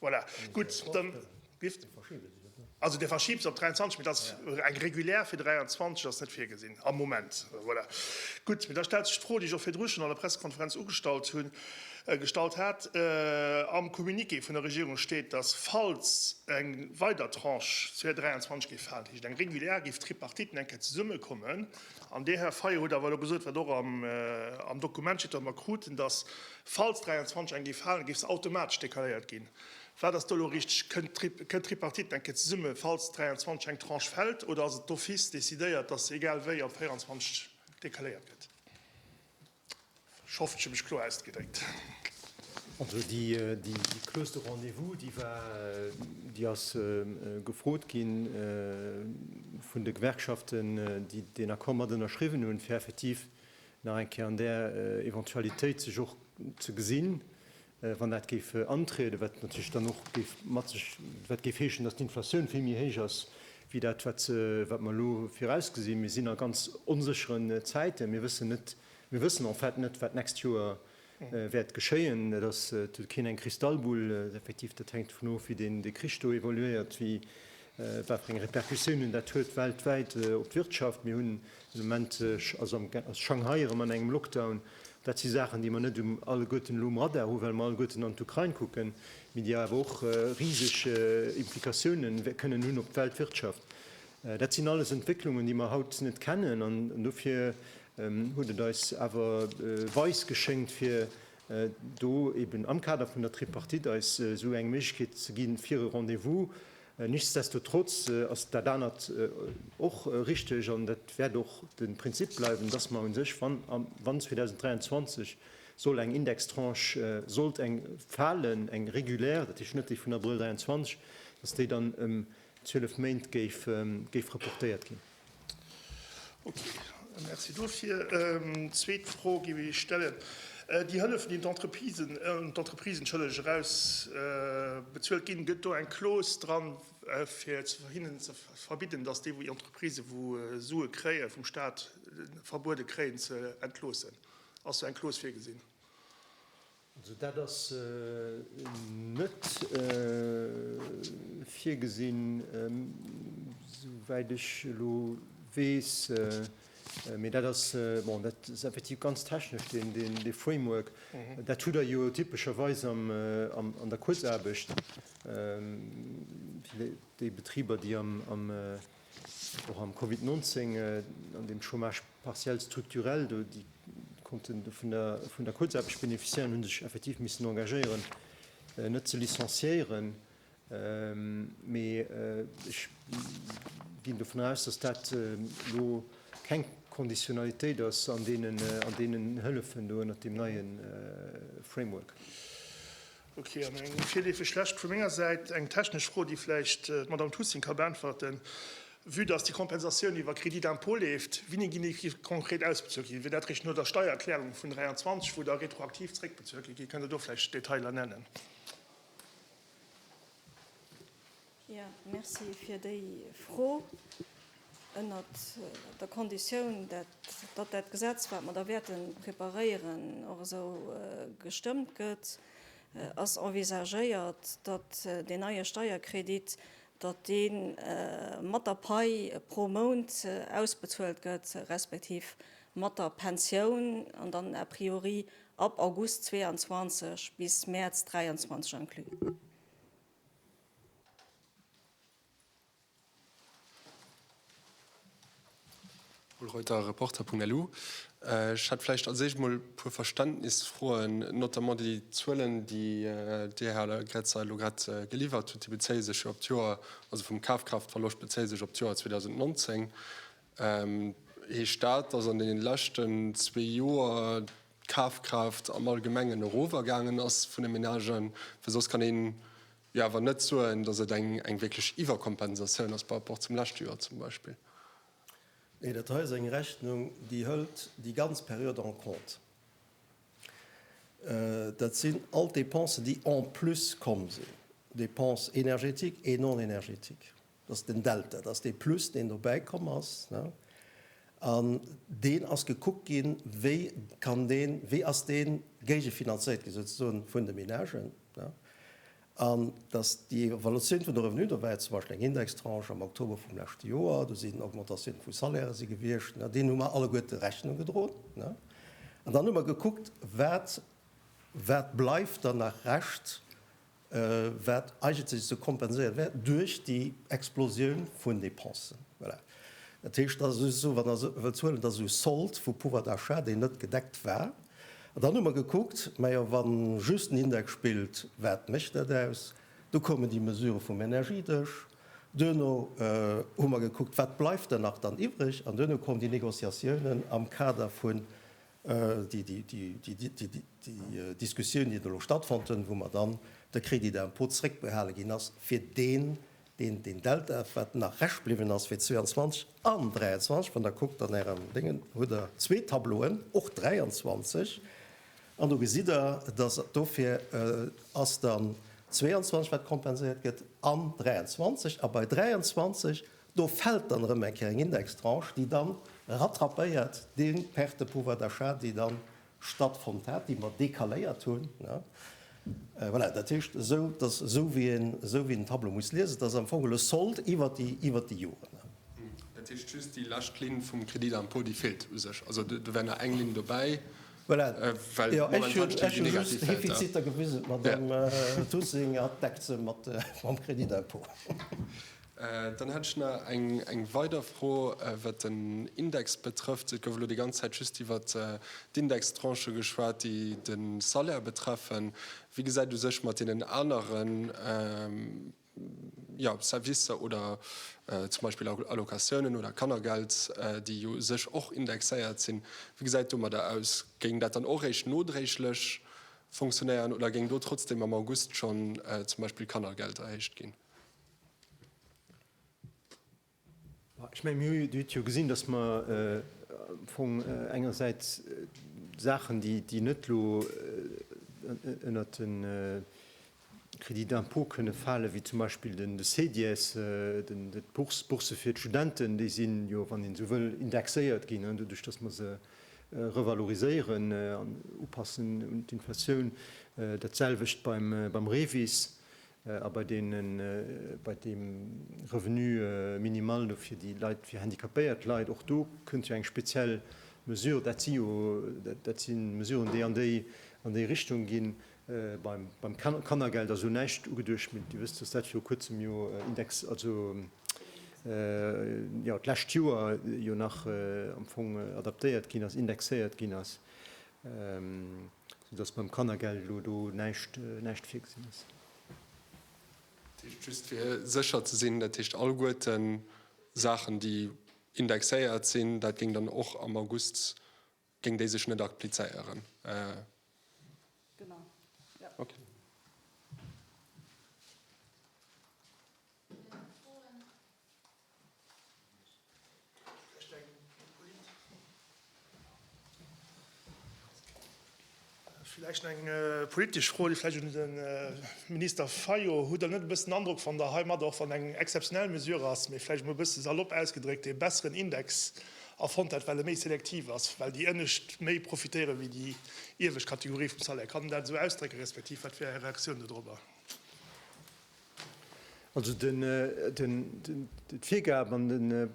Voilà, gutt, dann, Biff? Dee verschiebe se net, ne? Also dee verschibe se op 23, mee dat ass eng regulär fir 23, ass net virgesinn am Moment. Voilà, gutt. Mee da stellt sech d'Fro, déi ech och virdru schonn an der Pressekonferenz ugestallt hunn, gestallt hat. Am Communiqué vun der Regierung steet, dass, falls eng weider Tranche fir 23 géif falen, dat heescht eng regulär, géif d'Tripartite eng Kéier zesummekommen. An Dir, Här Fayot, hutt awer elo gesot, wat och am Dokument steet, wat mer kruten, dass Falls 23 eng géif halen, géif se automatesch decaléiert ginn. Wat ass do elo richteg? Kënnt d'Tripartite eng Kéier zesumme, falls 23 eng Tranche fält, oder ass et d'office decidéiert, datt se egal wéi op 24 decaléiert gëtt? Ech hoffen, ech hu mech kloer ausgedréckt. Also déi Clause de rendez-vous, déi war, déi ass gefrot gi vun de Gewerkschaften, déi deen Accord mat ënnerschriwwen hunn, fir effektiv nach eng Kéier an där Eventualitéit sech och ze gesinn, wann dat géif antrieden, wat natierlech dann och géif mat sech, wat géif heeschen, datt d'Inflatioun vill méi héich ass wéi dat, wat wat mer elo virausgesinn. Mir sinn a ganz onsécheren Zäiten. Mir wëssen net, mir wëssen en fait net, wat d'nächst Joer wäert geschéien. Et ass keen eng Kristallbull, effektiv dat hänkt dovun of wéi deen de Krich do evoluéiert, wéi wat fir eng Repercussiounen dat huet weltwäit op d'Wirtschaft. Mir hunn de Moment, also ass Shanghai erëm an engem Lockdown. Dat si Saachen déi mer net um alleguerten elo um Radar hu well mer alleguerten an d'Ukrain kucken, mee déi awer och riseg Implikatiounen kënnen hunn op d'Weltwirtschaft. Dat sinn alles Entwécklungen déi mer haut net kennen an dofir huet et eis awer weis geschéngt, fir do eben am Kader vun der Tripartite eis esou eng Méiglechkeet ze ginn, fir e Rendez-vous. Nichtsdestotrotz ass dat anert och richtig, an dat wäert och de Prinzip bleiwen, dass mer u sech, wann 2023 soll eng Indextranche sollt eng falen, eng regulär, dat heescht net déi vun Abrëll 2023, dass déi dann ëm 12 Méint géif reportéiert ginn. Merci dofir. Zweet Fro géif ech stellen, Déi Hëllef, déi un d'Entreprisen erausbezuelt ginn, gëtt do eng Clause dran, fir hinnen ze verbidden, datt déi Entreprisë, wou Sue kréie vum Staat, verbuede kréien ze entloossen? Ass do eng Clause virgesinn? Also dat ass net virgesinn, souwäit ech elo weess. Mee dat ass, bon, dat ass effektiv ganz technesch, dee Framework. Dat hutt Der jo typescherweis an der Kuerzaarbecht, déi Betriber, déi am. Och am Covid 19, an deem Chômage partiel structurel, do déi konnten vun der Kuerzaarbecht beneficiéieren, hu sech effektiv missen engagéieren, net ze licenciéieren. Mee ech ginn dovun aus, dass dat elo keng Konditionalitéit ass an deenen Hëllefen do ënnert deem neie Framework. Ok, an eng virleefeg lescht vu menger Säit, eng technesch Fro, déi vläicht d'Madamm Thussing ka beäntwerten. Vue dass déi Kompensatioun iwwer Crédit d'impôt leeft, winni ginn déi konkret ausbezuelt ginn? Wier dat eréischt no der Steiererklärung vun 23, wou da retroaktiv zréckbezuelt gëtt ginn? Kënnt Der do vläicht Detailer nennen? Jo, merci fir déi Fro. Ënnert der Konditioun, datt dat Gesetz, wat mer da wäerte preparéieren, och esou gestëmmt gëtt, ass envisagéiert, datt deen neie Steierkredit, datt dee mat der Pai pro Mount ausbezuelt gëtt, respektiv mat der Pensioun an dann a priori ab August 22 bis Mäerz 23 inclus. Reuter, Reporter.lu, Ech hätt vläicht als éischt mol e puer Verständnisfroen, notamment déi Zuelen, déi Dir, Här Gretz, elo grad geliwwert hutt, déi bezéie sech jo op d'Joer, also vum Kafkraaftverloscht bezéie sech op d'Joer 2019. Heescht dat, datt an deenen leschten zwee Joer d'Kafkraaft am Allgemengen erof a gaangen ass vun de Menagen, well soss kann een jo awer net soen, datt et eng eng wierklech Iwwerkompensatioun ass par rapport zum leschte Joer zum Beispill. Nee, dat hei ass eng Rechnung, déi hëlt déi ganz Period en compte. Dat sinn all d'Dépensen, déi en plus komm sinn, Dépenses énergétiques et non énergétiques. Dat ass den Delta, dat ass dee Plus, deen dobäi komm ass. An deen ass gekuckt ginn, wéi kann deen, wéi ass dee géigefinanzéiert ginn, souzesoen, vun de Ménagen. An dass déi Evolutioun vun de Revenue, do war jo zum Beispill eng Indextranche am Oktober vum leschte Joer, do sinn Augmentatiounen vu Salairë si gewiescht, deenen hu mer alleguerte Rechnung gedroen. An dann hu mer gekuckt, wat, wat bleift dann nach Rescht wat eigentlech ze kompenséiere wär duerch déi Explosioun vun Dépensen. Voilà. Dat heescht, dat ass just esou, wann Der se wëllt huelen, dat ass esou Sold vu Pouvoir d'achat, deen net gedeckt war. An dann hu mer gekuckt, Majo, wa just den Index spillt, wat mécht dat aus? Du koumen déi Mesure vum Energiedësch. Duerno hu mer gekuckt, wat bleift dann nach dann iwwreg? An duerno koumen déi Négociatiounen am Kader vun Déi Diskussioun, déi do elo stattfonnt hunn, wou mer dann de Crédit d'impôt zréckbehale ginn ass fir deen, deen Delta, wat nach Rescht bliwwen ass fir 22 an 23, wann Der kuckt an Ärem Déngen, hutt Der zwee Tableauen, och 23, an do gesitt Der, dass dofir ass dann 22, wat kompenséiert gëtt, an 23. A bei 23 Do fält dann erëm eng Kéier eng Indextranche, déi da rattrapéiert dee Perte de pouvoir d'achat, déi da stattfonnt hat, déi mer décaléiert hunn. Voilà, dat heescht esou, dass, esou wéi een den Tableau muss liesen, dass am Fong geholl e Sold iwwert déi Joren. Dat heescht, just déi lescht Linn vum Crédit d'impôt, déi feelt u sech. Also do wär nach eng Linn dobäi, well momentan stinn déi negativ Delta. Ech hu just d'Defiziter gewisen, d'Madamm Thussing deckt se mam Crédit d'impôt. Dann hätt ech nach eng weider Fro, wat den Index betrëfft. Et gouf elo déi ganz Zäit just iwwert d'Indextranchë geschwat, déi de Salaire betreffen. Wéi gesäit u sech mat deenen anere Servicer oder zum Beispill Allocatiounen oder Kannergeld, déi jo u sech och indexéiert sinn, wéi gesäit et domadder aus? Géing dat dann och eréischt nodréiglech fonctionnéieren oder géing do trotzdeem am August schonn zum Beispill d'Kannergeld erhéicht ginn? Ech menge mir huet jo gesinn, datt mer am Fong engersäits Saachen, déi net elo ënnert de Crédit d'impôt kënne falen, wéi zum Beispill de CEDIES, d'Bourse fir d'Studenten, déi sinn jo, wann een esou wëll, indexéiert ginn, doduerch datt mer se revaloriséieren an upassen un d'Inflatioun. Dat selwecht beim REVIS. a bei deenen, bei deem Revenu minimal do fir déi Leit, fir handicapéiert Leit, och do kënnt jo eng speziell Mesure. Dat si jo, dat si Mesuren, déi an déi, an déi Richtung ginn. Beim, beim Kannergeld ass elo näischt ugeduecht, mee Dir wësst, dass dat viru Kuerzem jo index, also, jo d'lescht Joer jo nach am Fong adaptéiert ginn ass, indexéiert ginn ass. Sou dass beim Kannergeld elo do näischt, näischt virgesinn ass. Dat heescht, just fir sécher ze sinn, dat heescht alleguerten Saachen, déi indexéiert sinn, dat géing dann och am August, géing déi sech net applizéieren? Genau, jo. Okay. Vläicht eng politesch Fro, déi vläicht un de Minister Fayot, Hutt Der net e bëssen den Androck, wann Der heimat, och wann et eng exzeptionell Mesure ass, mee vläicht emol e bësse salopp ausgedréckt, ee besseren Index erfonnt hätt, well e méi selektiv ass, well déi Ënnescht méi profitéiere wéi déi iewescht Kategorie vum Salaire? Kann een dat esou ausdrécke respektiv wat wär Är Reaktioun do drobber? Also d'Virgab an de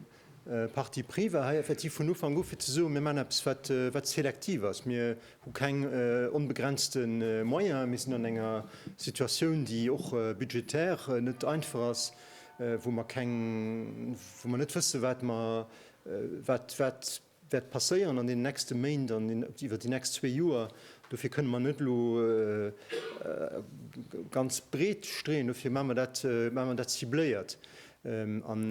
Parti pris war hei effektiv vun Ufank u fir ze soen, mir maachen eppes wat selektiv ass. Mir hu keng onbegrenzte Moyene, mir sinn an enger Situatioun, déi och budgetär net einfach ass, wou mer net wësse wat wäert passéieren an deenen nächste Méint an iwwer déi nächst zwee Joer. Dofir kënne mer net elo ganz breet streeën. Dofir hu mer dat cibléiert. An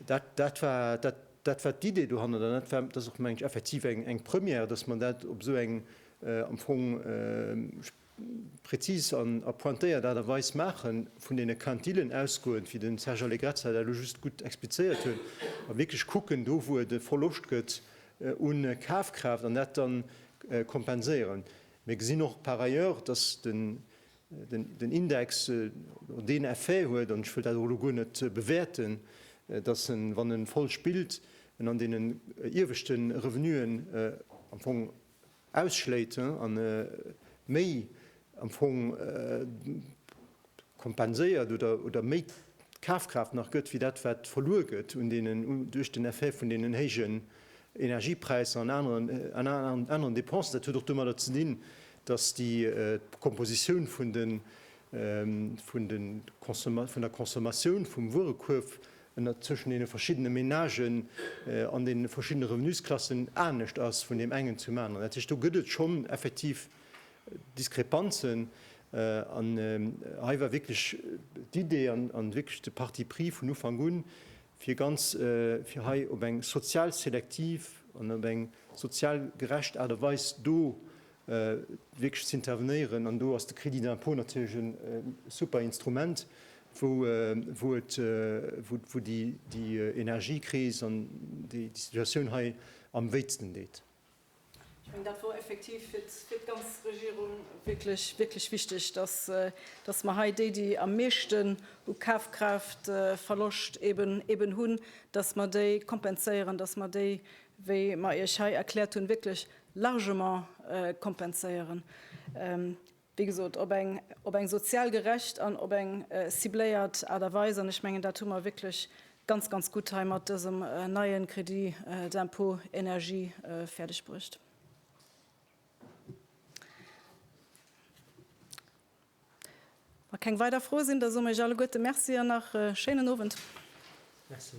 dat war d'Idee dohannert an dat ass och, meng ech, effektiv eng Première, dass mer dat op esou eng am Fong, präzis an a pointéiert Aart a Weis maachen, vun deene Quintillen ausgoend, wéi den Serge Allegrezza dat elo just gutt explizéiert huet, a wierklech kucken, do wou et e Verloscht gëtt un Kafkraaft, an dat dann kompenséieren. Mir gesinn och par ailleurs, dass den Index deen Effet huet, an ech wëll dat och elo guer net bewäerten, dass en, wann e voll spillt, en an deenen ieweschte Revenuen am Fong ausschléit an méi am Fong kompenséiert oder méi Kafkraaft nach gëtt, wéi dat wat verluer gëtt duerch den Effet vun deenen héijen Energiepräisser an aneren Depensen. Dat huet och domadder ze dinn, datt déi Kompositioun vun der Consommatioun vum Wuerekuerf an datt tëschent deene verschiddene Menagen an deene verschiddene Revenusklassen anescht ass vun deem engen zum aneren. Dat heescht, do gëtt et schonn effektiv Diskrepanzen. An hei war wierklech d'Idee an wierklech de Parti pris vun Ufank un, fir ganz, fir hei op eng sozial selektiv an op eng sozial gerecht Aart a Weis do wierklech z'intervenéieren. An do ass de Crédit d'impôt natierlech e super Instrument, wou et, wou déi Energiekris an déi Situatioun hei am wéitsten deet. Ech mengen, dat wor effektiv fir d'ganz Regierung wierklech, wierklech wichtig, dass, dass mer hei déi, déi am meeschten u Kafkraaftverloscht eben, eben hunn, dass mer déi kompenséieren, dass mer déi, wéi mer Iech hei erkläert hunn, wierklech largement kompenséieren, wéi gesot op eng sozial gerecht an op eng cibléiert Aart a Weis. An ech mengen, dat hu mer wierklech ganz, ganz gutt hei mat dësem neie Crédit d'impôt énergie fäerdegbruecht. Wa keng weider Froe sinn, da soe mer Iech alleguerte Merci an nach e schéinen Owend. Merci.